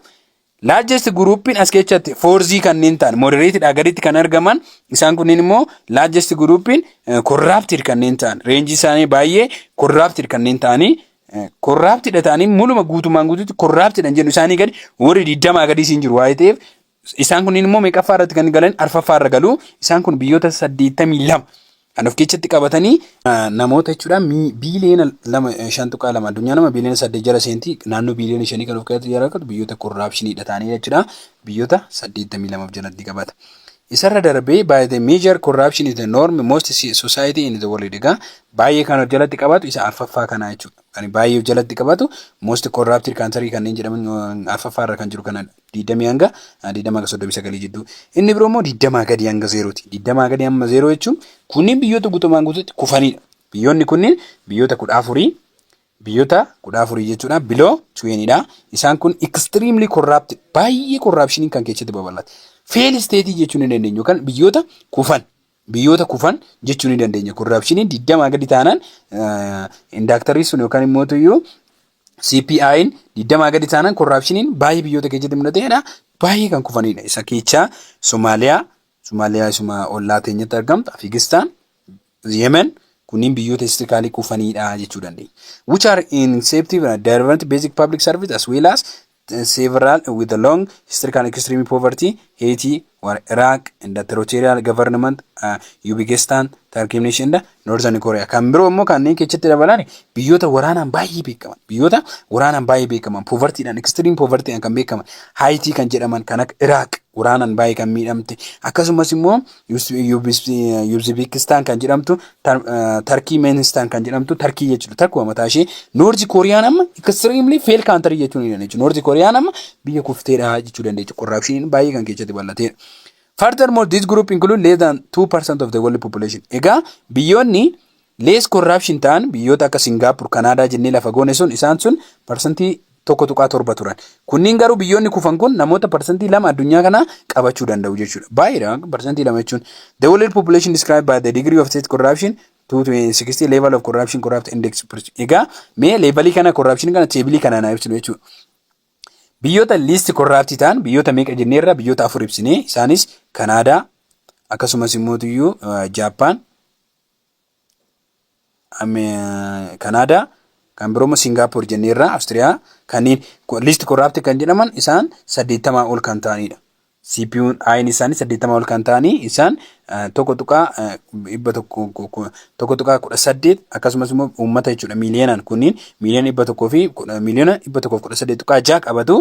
Largest group'n as keessatti foorzii kanneen ta'an moderate dhaa gaditti kan argaman isaan kunneen immoo largest group'n corrupted kanneen ta'an reenjii isaanii baay'ee corrupted kanneen ta'anii corrupted dha ta'anii muluma guutumaan guututti corrupted dha jennu isaanii gadi warri digdamaa gadii siin jiru waa'ee ta'eef isaan kunneen immoo meeqaffaa irratti kan galan arfaffaa irra galu isaan kun biyyoota saddeettamii lama kan of keessatti qabatanii namoota jechuudha biiliyoona lama shan tuqaa lama addunyaa nama biiliyoona saddeet jala seentii naannoo biiliyoona shanii kan of keessatti jala qabatu biyyoota korraapshiniidha ta'anii jechuudha biyyoota saddeettamii lamaaf jalatti qabata. Isarra darbee by the major corruption is the norm most society in the world egaa baay'ee kan of jalatti qabatu isa arfaffaa kanaa jechuudha. Kan baay'ee of jalatti qabatu most corrupted country kanneen jedhaman arfaffaa irra kan jiru kanadha. 20 hanga 20 hanga 39 jidduu. Inni biroo immoo 20 gadi hanga zeerooti. 20 gadi amma zeeroo jechuun kunniin biyyoota guutumaan guutuutti kufanidha. Biyyoonni kunniin biyyoota kudha afurii biyyoota kudha afurii jechuudha biloo tuweenidha. Isaan kun extremely corrupt baay'ee corruptioniin kan keessatti babal'ate. Fail state jechuun hin dandeenyu yookaan biyyoota kufan biyyoota kufan jechuu ni dandeenya. Korraapshiniin digdamaa gadi taanaan indaaktarri sun yookaan immoo iyyuu CPI'n digdamaa gadi taanaan korraapshiniin baay'ee biyyoota keessatti mul'ateedha. Baay'ee kan kufanidha. Isa keessaa Somaaliyaa, Somaaliyaa isuma ollaa teenyatti argamtu, Afgaanistaan, Yemen kunniin biyyoota istikaalii kufanidha jechuu dandeenya. Which are inceptive and development basic public service as well as several with a long historical extreme poverty, Haiti, war Iraq, and the territorial government, uh, Uzbekistan, Turkey Nation, and Northern Korea. Kan biroo immoo kanneen keessatti dabalan biyyoota waraanaan baay'ee beekaman, biyyoota waraanaan baay'ee beekaman, povertiidhaan, extreme povertiidhaan kan beekaman, Haiti kan jedhaman kan akka Iraq waraanaan baay'ee kan miidhamte, akkasumas immoo Yuuzibikistaan kan jedhamtu, Tarkii Meenistaan kan jedhamtu, Tarkii jechuudha. Takkuma mataa ishee Noorzi Kooriyaan amma extremely fail country jechuu ni dandeechu. Noorzi Kooriyaan amma biyya kufteedha jechuu dandeechu. Corruption baay'ee kan keessatti bal'ateedha. Furthermore, this group include less than 2% of the world population. Egaa biyyoonni Less corruption ta'an biyyoota akka Singapore, Canada jennee lafa goone sun isaan sun parsantii 1.7 turan. Kunniin garuu biyyoonni kufan kun namoota parsantii 2 addunyaa kanaa qabachuu danda'u jechuudha. Baay'eedha parsantii 2 jechuun. The world population described by the degree of state corruption to 60 level of corruption corrupt index. Egaa mee leevalii kana corruption kana teebilii kanaan haa ibsinu jechuudha. Biyyoota liisti korraaptii ta'an biyyoota meeqa jenneerra biyyoota afur ibsine isaanis Kanaadaa akkasumas immoo tuyyuu Jaappaan Kanaadaa kan biroo immoo Singaapoor jenneerraa Awustiriyaa kanneen liist korraapti kan jedhaman isaan saddeettamaa ol kan ta'anidha. CPU'n ayin isaanii saddeettamaa ol kan ta'anii isaan tokko tuqaa dhibba tokko tuqaa kudha saddeet akkasumas immoo uummata jechuudha miiliyoonaan kunniin miiliyoona dhibba tokkoo fi miiliyoona dhibba tokkoo fi kudha saddeet tuqaa ja'a qabatu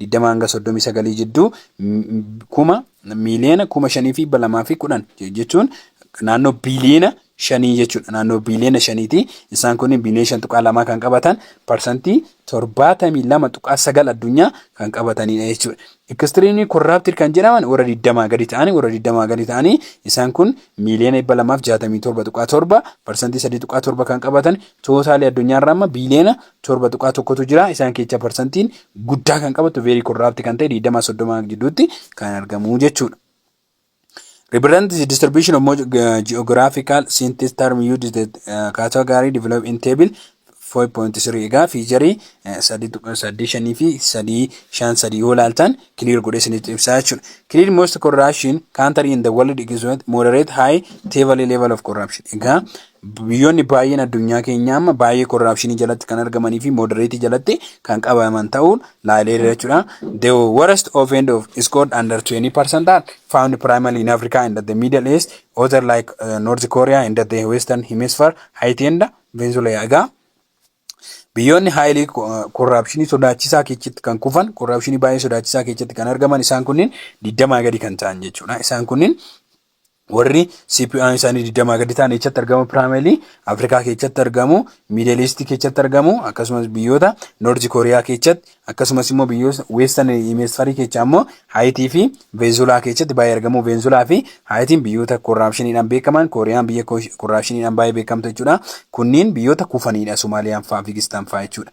20 hanga 39 jidduu kuma miiliyoona kuma shanii fi balamaa fi kudhan jechuun naannoo biiliyoona shanii jechuudha. Naannoo biiliyoona shaniiti. Isaan kun biiliyoona shan tuqaa lamaa kan qabatan parsantii torbaatamii lama tuqaa sagal addunyaa kan qabatanidha jechuudha. Ekistiriimii korraaptir kan jedhaman warra digdamaa gadi ta'anii warra digdamaa gadi ta'anii isaan kun miiliyoona dhibba lamaaf jaatamii torba tuqaa torba parsantii sadii tuqaa torba kan qabatan tootaalii addunyaarraa amma biiliyoona torba tuqaa tokkotu jira. Isaan keessa parsantiin guddaa kan qabatu veerii korraapti kan ta'e 20-30 gidduutti kan argamu jechuudha. Represent the distribution of mo- uh, geographical synthesis term used the uh, category developed in table 4.3 egaa fiicharii 3.85 fi 3.53 yoo ilaaltan clear godhee isinitti ibsaa jechuudha. Clear most corruption country in the world is what moderate high table level of corruption. Egaa Biyyoonni baay'een addunyaa keenyaa amma baay'ee korraapshinii jalatti kan argamanii fi moodareetii jalatti kan qabaman ta'uun laaleera jechuudha. The worst offend of scored under 20% are found primarily in Africa and the Middle East, other like uh, North Korea and the Western Hemisphere, Haiti and Venezuela. Egaa biyyoonni haayilii korraapshinii sodaachisaa keessatti kan kufan, korraapshinii baay'ee sodaachisaa keessatti kan argaman isaan kunniin 20 gadi kan ta'an jechuudha. Isaan kunniin Warri CPUn isaanii 20 gadi ta'an eessatti argamu? Piraameli Afrikaa keessatti argamu, Miidel Iistii keessatti argamu, akkasumas biyyoota Noorzi Kooriyaa keessatti, akkasumas immoo biyyoota Weestan Hemisfarii keessaa immoo Haayitii fi Veenzulaa keessatti baay'ee argamu. Veenzulaa fi Haayitiin biyyoota korraapshiniidhaan beekaman, Kooriyaan biyya korraapshiniidhaan baay'ee beekamtu jechuudha. Kunniin biyyoota kufaniidha, Somaaliyaan fa'aa, Afgaanistaan fa'aa jechuudha.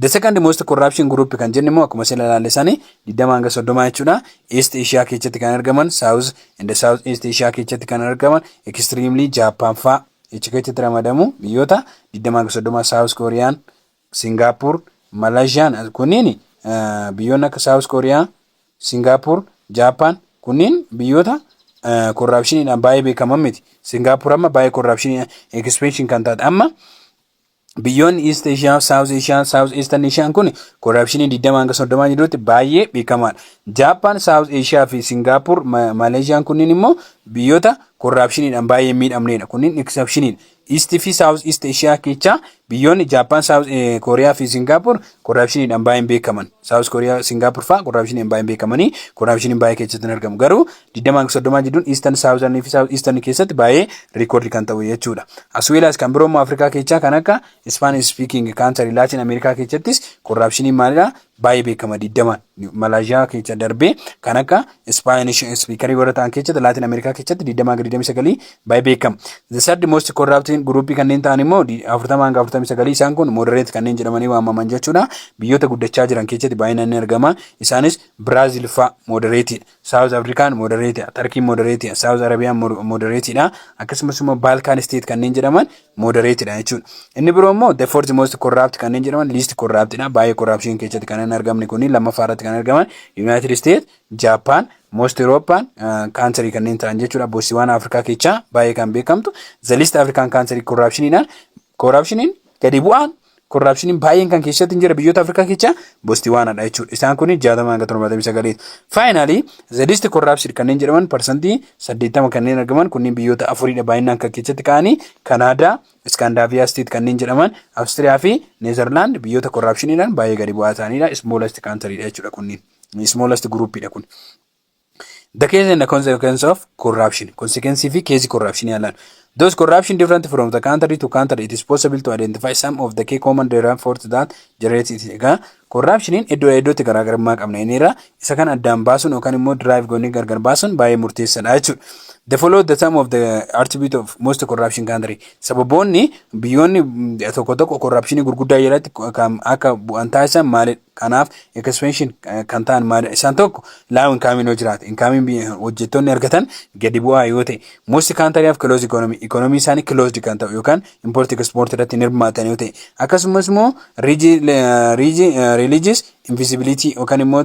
The second most corruption group kan jennu immoo akkuma sila ilaalle sani 20 hanga 30 jechuudha. East Asia keessatti kan argaman, South In the South East Asia keessatti kan argaman extremely Japan faa achi keessatti ramadamu biyyoota 20-30 South Korean, Singapore, Malaysian as- kunniin eh, biyyoonni akka South Korea, Singapore, Japan kunniin biyyoota eh, corruptioniidhaan baay'ee beekaman miti. Singapore amma baay'ee corruptionii expansion kan taate amma Biyyoonni East Asia, South Asia, South Eastern Asia kun korapshinii 20 hanga 30 jirutti baay'ee beekamaadha. Jaappaan, South Asia fi Singaappur, Maleeziyaan kunniin immoo biyyoota korapshiniidhaan baay'ee miidhamneedha. Kunniin exceptioniidha. East fi South East Asia keessaa biyyoonni Jaappaan, South Kooriyaa fi Singaappur korapshiniidhaan baay'een beekaman. South Kooriyaa, Singaappur fa'aa korapshiniidhaan baay'een beekamanii korapshiniin baay'ee keessatti hin argamu. Garuu digdama hanga soddomaa jidduun Eastern, Southern fi South Eastern keessatti baay'ee record kan ta'u jechuudha. As well as kan biroo immoo Afrikaa keessaa kan akka Spanish speaking country Latin America keessattis corruptioniin maalidha baay'ee beekama digdamaan. Malaysia keessa darbee kan akka Spanish speaker warra ta'an keessatti Latin America keessatti digdama hanga digdamii sagalii baay'ee beekama. The third most corrupting group kanneen ta'an immoo di- afurtama hanga afurtamii sagalii isaan kun moderate kanneen jedhamanii waamaman jechuudha. Biyyoota guddachaa jiran keessatti baay'inaan ni argama. Isaanis Brazil fa'a moderate dha. Saawuz Afrikaan modereetidha. Tarkiin modereetidha. Saawuz Arabiyaan modereetidha. Akkasumas immoo Baalkaan isteet kanneen jedhaman modereetidha jechuudha. Inni biroo immoo the fourth most corrupt kanneen jedhaman least corruptidha. Baay'ee corruption keessatti kan hin argamne kuni lammaffaa irratti kan argaman United States, Japan, most European uh, country kanneen ta'an jechuudha. Botsiwana Afrikaa keessaa baay'ee kan beekamtu the least African country corruptionidhaan corruptioniin gadi bu'aan Korraapshiniin baay'een kan keessatti hin jira biyyoota Afrikaa keessa Bostiwaanadha jechuudha. Isaan kun 60 hanga 79. Faayinaalii zedisti korraapshid kanneen jedhaman parsantii 80 kanneen argaman kunniin biyyoota afuridha baay'inaan kan keessatti ka'anii Kanaadaa, Iskaandaaviyaa isteet kanneen jedhaman Awustiriyaa fi Neezerlaand biyyoota korraapshiniidhaan baay'ee gadi bu'aa ta'anidha. Ismoolast kaantaridha jechuudha kunniin. Ismoolast guruupidha kun. The case and the consequence of corruption. Consequence fi case corruption yaalaan. Those corruption different from the country to country it is possible to identify some of the key common driving forces that generate it. Egaa corruptioniin iddoo iddootti garaagarummaa qabna inniirra isa kan addaan baasuun yookaan immoo drive goonee gargar baasuun baay'ee murteessaadha jechuudha. The follow the sum of the attribute of most corruption country. Sababoonni biyyoonni tokko tokko corruptionii gurguddaa jalatti kan akka bu'an taasisan maalidha? Kanaaf expansion kan ta'an maali? Isaan tokko low income yoo jiraate, income hojjettoonni argatan gadi bu'aa yoo ta'e, most country of closed economy, economy isaanii closed kan ta'u yookaan import export irratti hin hirmaatan yoo ta'e, akkasumas immoo religious invisibility yookaan immoo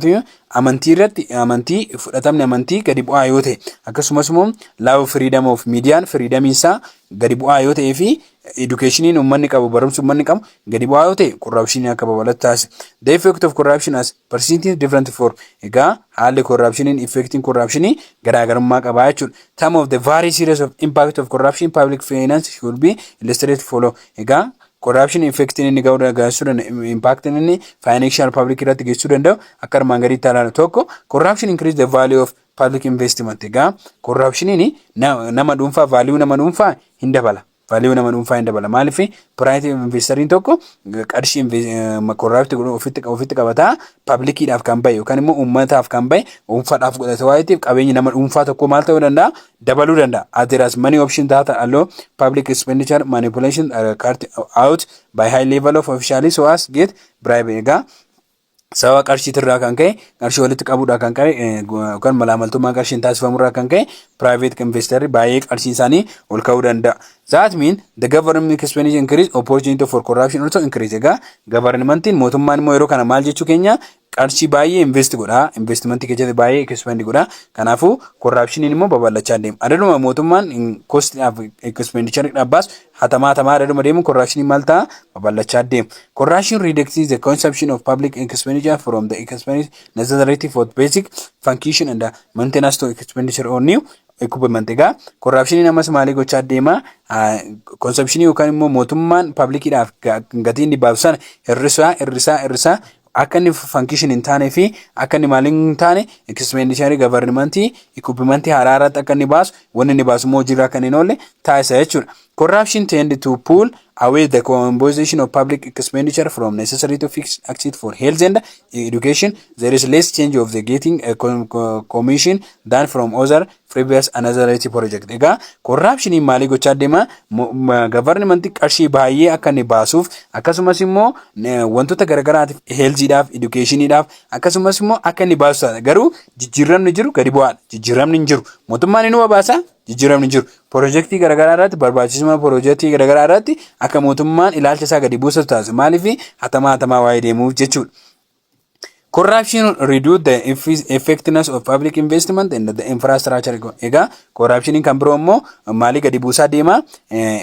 amantii irratti amantii fudhatamni amantii gadi bu'aa yoo ta'e, akkasumas immoo low freedom of media, freedom isaa gadi bu'aa yoo ta'ee fi Edukeeshiniin uummanni qabu, barumsi uummanni qabu gadi bu'aa yoo ta'e korraapshinii akka babal'atu taasisa. The effect of corruption as perceived is different for. Egaa haalli korraapshiniin effectiin korraapshinii garaagarummaa qabaa jechuudha. Some of the very serious of impact of corruption public finance should be illustrated follow. Egaa korraapshinii effectiin inni ga'uu geessisuu danda'u impaaktiin inni financial public irratti geessisuu danda'u akka armaan gadiitti ilaalu tokko corruption increase the value of Public investment egaa corruptioniin nama dhuunfaa value nama dhuunfaa hin dabala. Value nama dhuunfaa hin dabala. Maaliif private investariin tokko qarshii corrupt godhu ofitti ofitti qabataa publiciidhaaf kan bahe yookaan immoo uummataaf kan bahe dhuunfaadhaaf godhate waan ta'eef qabeenyi nama dhuunfaa tokko maal ta'uu danda'a dabaluu danda'a. As there as many options that allow public expenditure manipulation are carried out by high level of officials who as get bribe egaa sababa qarshiitirraa kan ka'e qarshii walitti qabuudhaa kan ka'e yookaan malaamaltummaa qarshiin taasifamurraa kan ka'e private investor baay'ee qarshiin isaanii ol ka'uu danda'a. That mean the government expenditure increase opportunity for corruption also increase. Egaa gavarnimantiin mootummaan immoo yeroo kana maal jechuu keenya qarshii baay'ee invest godha investmentii keessatti baay'ee expendi godha kanaafuu korraapshiniin immoo babal'achaa deema. Adaduma mootummaan kostiidhaaf expendicharidhaaf baasu Hatamaa hatamaa irra dhuma deemuun korraakshiniin maal ta'a? Babal'achaa deema. Corruption reducts the consumption of public expenditure from the expense necessary for basic function and maintenance to expenditure on new equipment. Egaa korraakshiniin ammas maalii gochaa deema? Konsepshinii yookaan immoo mootummaan pablikiidhaaf gatii inni baasu sana hir'isaa hir'isaa hir'isaa akka inni fankishin hin taane fi akka inni maaliin hin taane ekispeendisharii gavarnimantii ikuppimantii haaraa irratti akka inni baasu wanni inni baasu immoo hojiirra akka hin oolle taasisa jechuudha. Corruption tend to pull away the composition of public expenditure from necessary to fix access for health and education. There is less change of the getting a commission than from other previous anotherity project egaa korraapshiniin maalii gochaa deema gavarnimanti qarshii baay'ee akka inni baasuuf akkasumas immoo wantoota garagaraatiif heelziidhaaf edukeeshiniidhaaf akkasumas immoo akka inni baasu taata garuu jijjiiramni jiru gadi bu'aadha jijjiiramni hin jiru mootummaan inuma baasa jijjiiramni jiru pirojektii garagaraa irratti barbaachisummaa pirojektii garagaraa irratti akka mootummaan ilaalcha isaa gadi buusatu taasisa maaliif hatamaa hatamaa waa'ee deemuuf jechuudha. Corruption reduce the effi- effectiveness of public investment and the infrastructure. go- Egaa corruptioniin kan biroo immoo maalii gadi buusaa deema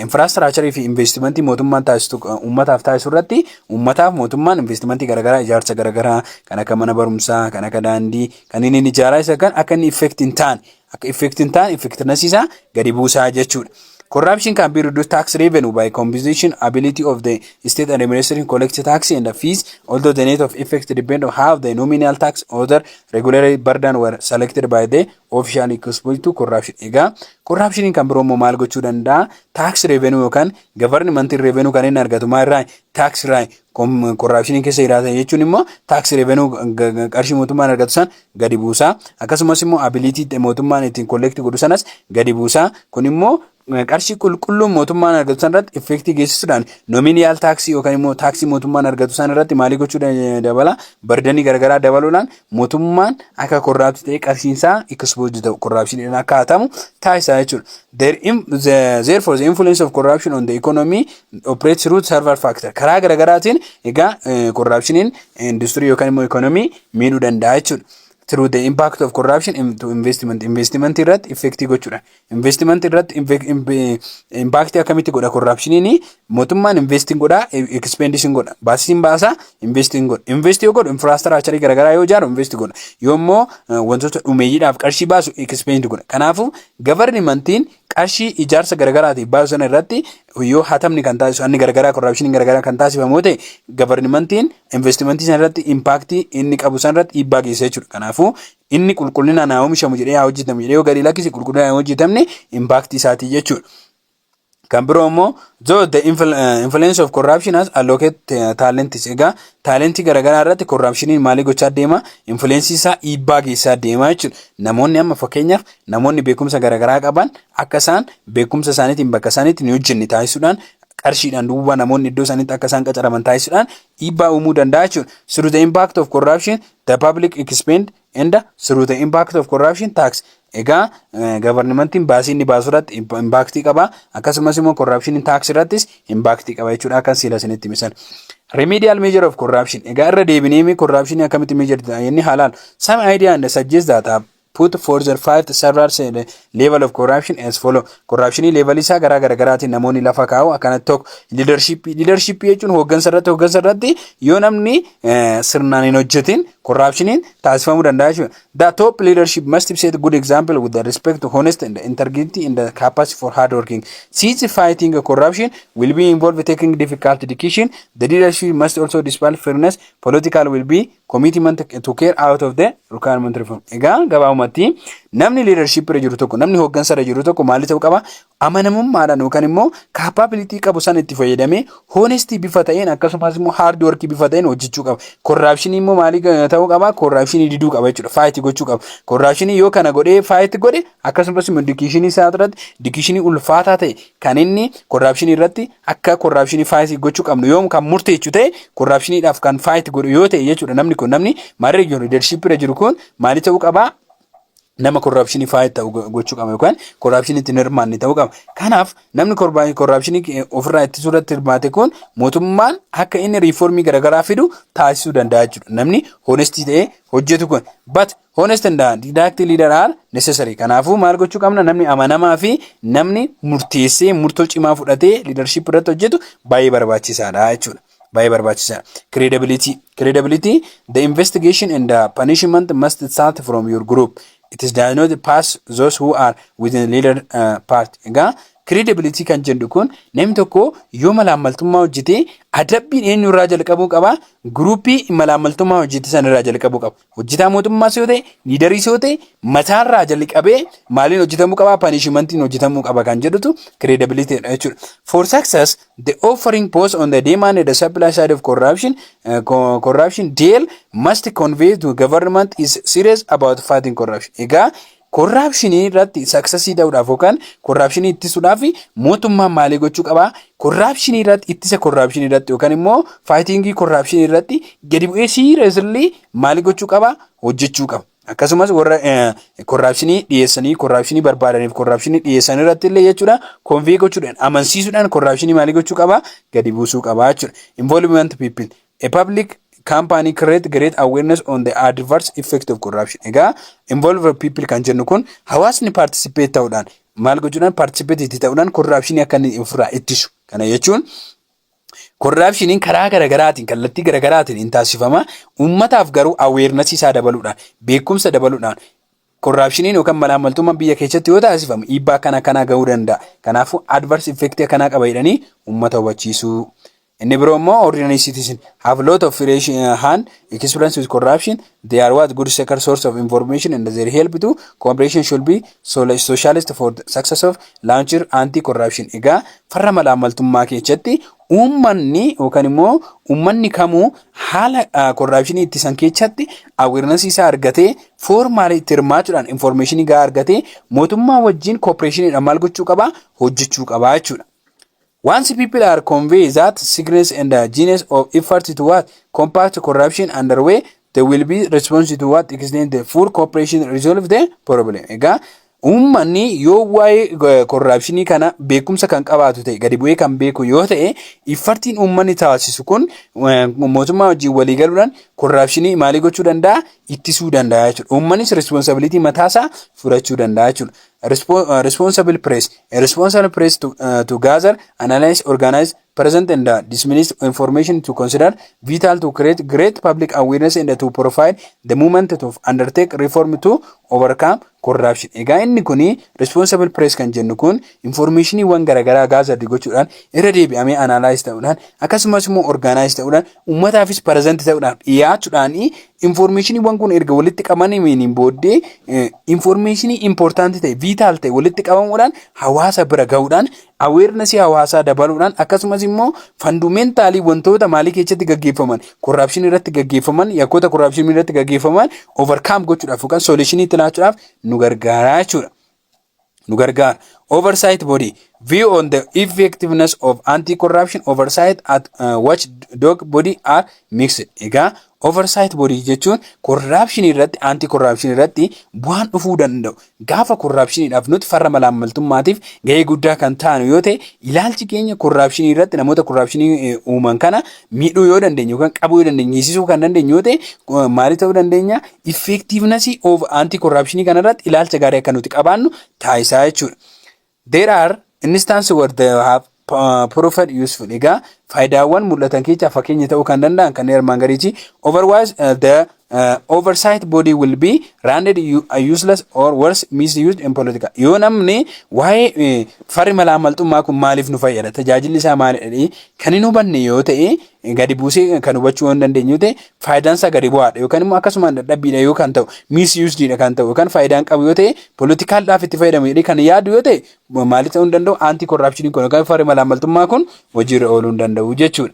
infrastructure fi investimentii mootummaan taasisu eh, uummataaf taasisu irratti uummataaf mootummaan investimentii garaagaraa ijaarsa garaagaraa kan akka mana barumsaa kan akka daandii kan inni inni ijaaraa isa kan akka inni effect hin taane Akka effect hin taane effectiveness isaa gadi buusaa jechuudha. Corruption can be reduced tax revenue by composition ability of the state administration collect tax and fees, although the net of effect depend on how the nominal tax other regulatory burden were selected by the official exposed to corruption. Egaa corruption kan biroo immoo maal gochuu danda'a? Tax revenue yookaan government revenue kan inni argatu maal irraa? Tax irraa corruption keessa jiraatan jechuun immoo tax revenue qarshii mootummaan argatu san gadi buusa. Akkasumas immoo ability mootummaan ittiin collect godhu sanas gadi buusa. Kun immoo qarshii qulqulluun mootummaan argatu san irratti effektii geessisuudhaan nominal taaksii yookaan immoo taaksii mootummaan argatu san irratti maalii gochuu dabala bardanii garagaraa dabaluudhaan mootummaan akka korraabsi ta'e qarshiinsaa ikispoozdi ta'u korraabshiniidhaan akka hatamu taasisaa jechuudha. Therefore the influence of corruption on the economy operates through several factors karaa garagaraatiin egaa korraabshiniin industirii yookaan immoo ikoonomii miidhuu danda'a jechuudha. Through the impact of corruption in- to investment investment irratti effectii gochuudha. Investment irratti inve- inve- impact akkamitti godha corruptioniin mootummaan investing godha expendition godha baasiin baasaa investing godha invest yoo godhu infrastructure garaagaraa yoo ijaaru invest godha yoo immoo eh, wantoota dhumeeyyiidhaaf qarshii baasu expend godha. Kanaafuu governmentiin qarshii ijaarsa garagaraatiif baasu sana irratti yoo hatamni kan taasisu anni garagaraa korraapshiniin garagaraa kan taasifamu yoo ta'e gavarnimantiin investimentii sana irratti impaaktii inni qabu sana irratti dhiibbaa geessisa jechuudha. Kanaafuu inni qulqullinaan haa oomishamu jedhee haa hojjetamu jedhee yoo gadi lakkise qulqullinaan hin hojjetamne impaaktii isaatii jechuudha. Kan biroo immoo though the influ- eh, influence of corruption has allocate eh, talents egaa taalentii garaagaraa irratti korraapshiniin maalii gochaa deema influensii isaa dhiibbaa geessaa deema jechuudha. Namoonni amma fakkeenyaaf Namoonni beekumsa garaagaraa qaban akka isaan beekumsa isaaniitiin bakka isaaniitti hin hojjenne taasisuudhaan qarshiidhaan duuba namoonni iddoo isaaniitti akka isaan qacaraman taasisuudhaan dhiibbaa uumuu danda'a jechuudha. Through the impact of corruption the public expend and through the impact of corruption tax. Egaa gavarnimantiin baasii inni baasu irratti impaaktii qaba akkasumas immoo corruption tax irrattis impaaktii qaba jechuudha akka siila isinitti misan. Remedial measure of corruption. Egaa irra deebinee corruption akkamitti measure ta'e inni halaal. Some idea and suggest that put for the fifth server said level of corruption as follow corruption level isaa garaa garaagaraatiin namoonni lafa kaa'u akkanatti tokko leadership leadership jechuun hooggansa irratti hooggansa irratti yoo namni sirnaan hin hojjetin corruptioniin taasifamuu danda'a jechuudha the top leadership must be set good example with the respect to honest and integrity and the capacity for hard working since fighting corruption will be involved taking difficult decision the leadership must also display fairness political will be commitment to care out of the requirement reform. Egaa gabaabumatti namni leadership irra jiru tokko namni hooggansa irra jiru tokko maal ta'uu qaba amanamummaadhaan yookaan immoo capability qabu sana itti fayyadamee honesty bifa ta'een akkasumas immoo hard work bifa ta'een hojjechuu qaba. Corruption immoo maalii ta'uu qaba corruption diduu qaba jechuudha fight gochuu qaba. Corruption yoo kana godhee fight godhe akkasumas immoo education isaa irratti education ulfaataa ta'e kan inni corruption irratti akka korraapshinii faayitii gochuu qabnu yoom kan murteechu ta'e korraapshiniidhaaf kan faayiti godhu yoo ta'e jechuudha namni kun namni marii region leadership irra jiru kun maali ta'uu qabaa nama korraapshinii faayiti ta'u gochuu qaba yookaan korraapshinii ittiin hirmaanne ta'uu qaba. Kanaaf namni korraapshinii eh, ofirraa ittisuu irratti hirmaate kun mootummaan akka inni riifoormii garaagaraa fidu taasisuu danda'a jechuudha. Namni honestii ta'ee hojjetu kun. But Honest and direct leader are necessary. Kanaafuu maal gochuu qabna? Namni amanamaa fi namni murteessee murtoo cimaa fudhatee leadership irratti hojjetu baay'ee barbaachisaadha jechuudha. Baay'ee barbaachisaadha. Credibility. Credibility the investigation and the punishment must start from your group. It is does not pass those who are within leader uh, part. Egaa credibility kan jedhu kun namni tokko yoo malaammaltummaa hojjete adabbiin eenyurraa jalqabuu qaba? Gruupii malaammaltummaa hojjete sanarraa jalqabuu qaba. Hojjetaa mootummaas yoo ta'e, liidariis yoo ta'e mataarraa jalqabee maaliin hojjetamuu qaba, panishimantiin hojjetamuu qaba kan jedhutu credibility dha jechuudha. For success, the offering post on the demand and the supply side of corruption, uh, co- corruption deal must convey to government is serious about fighting corruption. Egaa Korraapshinii irratti saksasii ta'uudhaaf yookaan korraapshinii ittisuudhaaf mootummaan maalii gochuu qaba? Korraapshinii irratti ittisa korraapshinii irratti yookaan immoo faayitingii korraapshinii irratti gadi bu'ee siiriyesli maalii gochuu qaba? Hojjechuu qaba. Akkasumas warra korraapshinii dhiyeessanii korraapshinii barbaadaniif korraapshinii dhiyeessan irratti illee jechuudha konvee gochuudhaan amansiisuudhaan korraapshinii maalii gochuu qaba? Gadi buusuu qaba jechuudha. Involvement people A public company create great awareness on the adverse effect of corruption. Egaa involve people kan jennu kun hawaasni participate ta'uudhaan maal gochuudhaan participate itti ta'uudhaan corruptionii akka inni ofirraa ittisu. Kana jechuun corruptioniin karaa garaagaraatiin kallattii garaagaraatiin hin taasifama. Uummataaf garuu awareness isaa dabaluudhaan beekumsa dabaluudhaan Korraapshiniin yookaan malaammaltummaan biyya keessatti yoo taasifamu dhiibbaa akkana akkanaa gahuu danda'a. Kanaafuu adverse effect akkanaa qaba jedhanii uummata hubachiisuu. Inni biroo immoo ordinary citizen have lot of fresh uh, hand experience with corruption. They are what good second source of information and their help to cooperation should be sol- socialist for the success of launcher anti-corruption. Egaa farra malaammaltummaa keessatti Uummanni yookaan immoo uummanni kamuu haala korraapshinii ittisan keessatti awareness isaa argatee foormaalee itti hirmaachuudhaan information gahaa argatee mootummaa wajjin cooperationidhaan maal gochuu qaba hojjechuu qaba jechuudha. Once people are convinced that sickness and the genius of effort to what combat corruption underway they will be responsive to what extend the full cooperation resolve the problem. Egaa Uummanni yoo waa'ee korraapshinii kana beekumsa kan qabaatu ta'e gadi bu'ee kan beeku yoo ta'e iffartiin uummanni taasisu kun mootummaa wajjin walii galuudhaan korraapshinii maalii gochuu danda'a ittisuu danda'a jechuudha. Uummannis responsibility mataasaa fudhachuu danda'a jechuudha. Responsible press, responsible press to, uh, to gather, analyze, organize, present and dismissed information to consider vital to create great public awareness and to profile the movement to undertake reform to overcome corruption. Egaa inni kun responsible press kan jennu kun informationiiwwan garaagaraa gaazardi gochuudhaan irra deebi'amee analyze ta'uudhaan akkasumas immoo organize ta'uudhaan uummataafis present ta'uudhaan dhiyaachuudhaan informationiiwwan kun erga walitti qabamaniin booddee informationii important ta'e vital ta'e walitti qabamuudhaan hawaasa bira ga'uudhaan awareness hawaasaa dabaluudhaan akkasumas immoo fandumentaalii wantoota maalii keessatti gaggeeffaman korraapshinii irratti gaggeeffaman yakkoota korraapshinii irratti gaggeeffaman overcome gochuudhaaf yookaan solutionii itti laachuudhaaf nu gargaaraa jechuudha. nu gargaara. Oversight body view on the effectiveness of anti-corruption oversight at uh, watchdog body are mixed. Egaa oversight body jechuun corruption irratti anti-corruption irratti bu'aan dhufuu danda'u Gaafa korraapshiniidhaaf nuti farra malaammaltummaatiif gahee guddaa kan taanu yoo ta'e ilaalchi keenya korraapshinii irratti namoota korraapshinii uuman kana miidhuu yoo dandeenye yookaan qabuu yoo dandeenye hiisisuu kan dandeenye yoo ta'e maalii ta'uu dandeenya effektiivnasii of anti korraapshinii kana irratti ilaalcha gaarii akka nuti qabaannu taasisaa jechuudha. There are instances where they have uh, proved useful. Egaa faayidaawwan mul'atan keessaa fakkeenya ta'uu kan danda'an kanneen armaan gadiiti. Otherwise uh, the uh, oversight body will be rendered u- uh, useless or worse misused in political. Yoo namni waa'ee eh, farri malaammaltummaa kun maaliif nu fayyada tajaajilli isaa maalidha jedhee kan hin hubanne yoo ta'e gadi buusee kan hubachuu hin dandeenye yoo ta'e faayidaan isaa gadi bu'aadha yookaan immoo akkasumaan dadhabbiidha yoo kan ta'u miisiyuusdiidha kan ta'u yookaan faayidaan qabu yoo ta'e poolitikaaldhaaf itti fayyadamu jedhee kan yaadu yoo ta'e maalii ta'uu hin danda'u aantii korraapshiniin kun yookaan farri malaammaltummaa kun hojiirra ooluu hin danda'u jechuudha.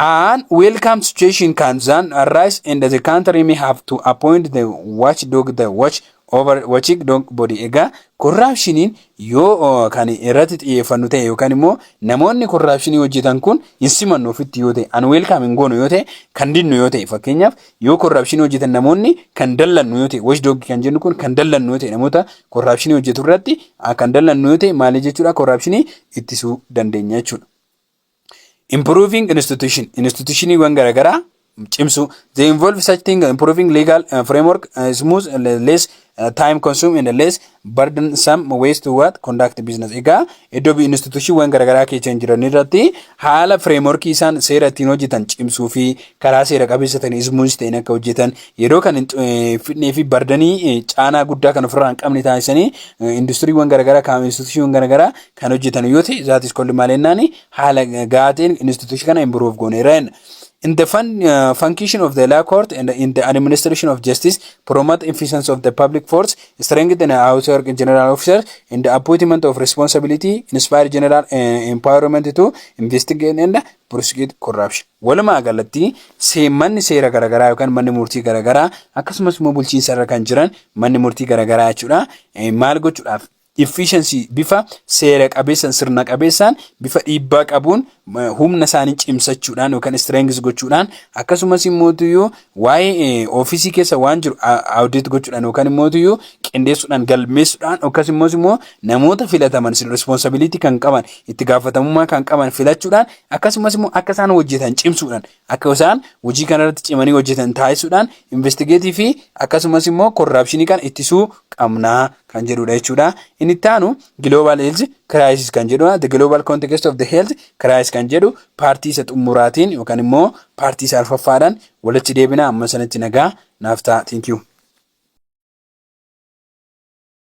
An welcome situation can then arise and the country may have to appoint the watchdog the watch over watching don't body egaa korraapshiniin yoo kan irratti xiyyeeffannu ta'e yookaan immoo namoonni korraapshinii hojjetan kun hin simannu ofitti yoo ta'e an weelkaam hin goonu yoo ta'e kan dinnu yoo ta'e fakkeenyaaf yoo korraapshinii hojjetan namoonni kan dallannu yoo ta'e wash doogii kan jennu kun kan dallannu yoo ta'e namoota korraapshinii hojjetu irratti kan dallannu yoo ta'e maalii jechuudha korraapshinii ittisuu dandeenya jechuudha. Improving institution institutioniiwwan garaagaraa cimsuu they involve such thing improving legal uh, framework uh, smooth uh, less uh, time consume and less burdensome ways to what conduct business egaa iddoo bi- institutiiwwan garaagaraa keessa hin jiran irratti haala frameworkii isaan seera ittiin hojjetan cimsuu fi karaa seera qabeessa ta'een smooth ta'een akka hojjetan yeroo kan hin eh, fidnee fi bardanii eh, caanaa guddaa kan ofirraa hin qabne taasisanii eh, industiriiwwan garaagaraa kaa'ame institutiiwwan garaagaraa kan hojjetan yoo ta'e that is called maal jennaani haala gahaa ta'een institution kana improve gooneera jenna. In the fun, uh, function of the law court and in the administration of justice, promote efficiency of the public force, strengthen the house work in general officers, and the appointment of responsibility, inspire general uh, empowerment to investigate and prosecute corruption. Walumaa galatti see- manni seera garaagaraa yookaan manni murtii garaagaraa akkasumas immoo bulchiinsa irra kan jiran manni murtii garaagaraa jechuudha. Eh, Maal gochuudhaaf? efficiency bifa seera qabeessan sirna qabeessaan bifa dhiibbaa qabuun humna isaanii cimsachuudhaan yookaan strength gochuudhaan akkasumas immootuyyuu waa'ee ofiisii keessa waan jiru audit gochuudhaan yookaan immootuyyuu qindeessuudhaan galmeessuudhaan yookas immoos immoo namoota filataman responsibility kan qaban itti gaafatamummaa kan qaban filachuudhaan akkasumas immoo akka isaan hojjetan cimsuudhaan Akka isaan hojii kana irratti cimanii hojjetan taasisuudhaan investigeetii fi akkasumas immoo korraapshinii kana ittisuu qabna kan jedhudha jechuudha. Inni itti aanu Global Health Crisis kan jedhudha. The Global Context of the Health Crisis kan jedhu paartii isa xumuraatiin yookaan immoo paartii isa arfaffaadhaan walitti deebina amma sanatti nagaa naaf ta'a. Thank you.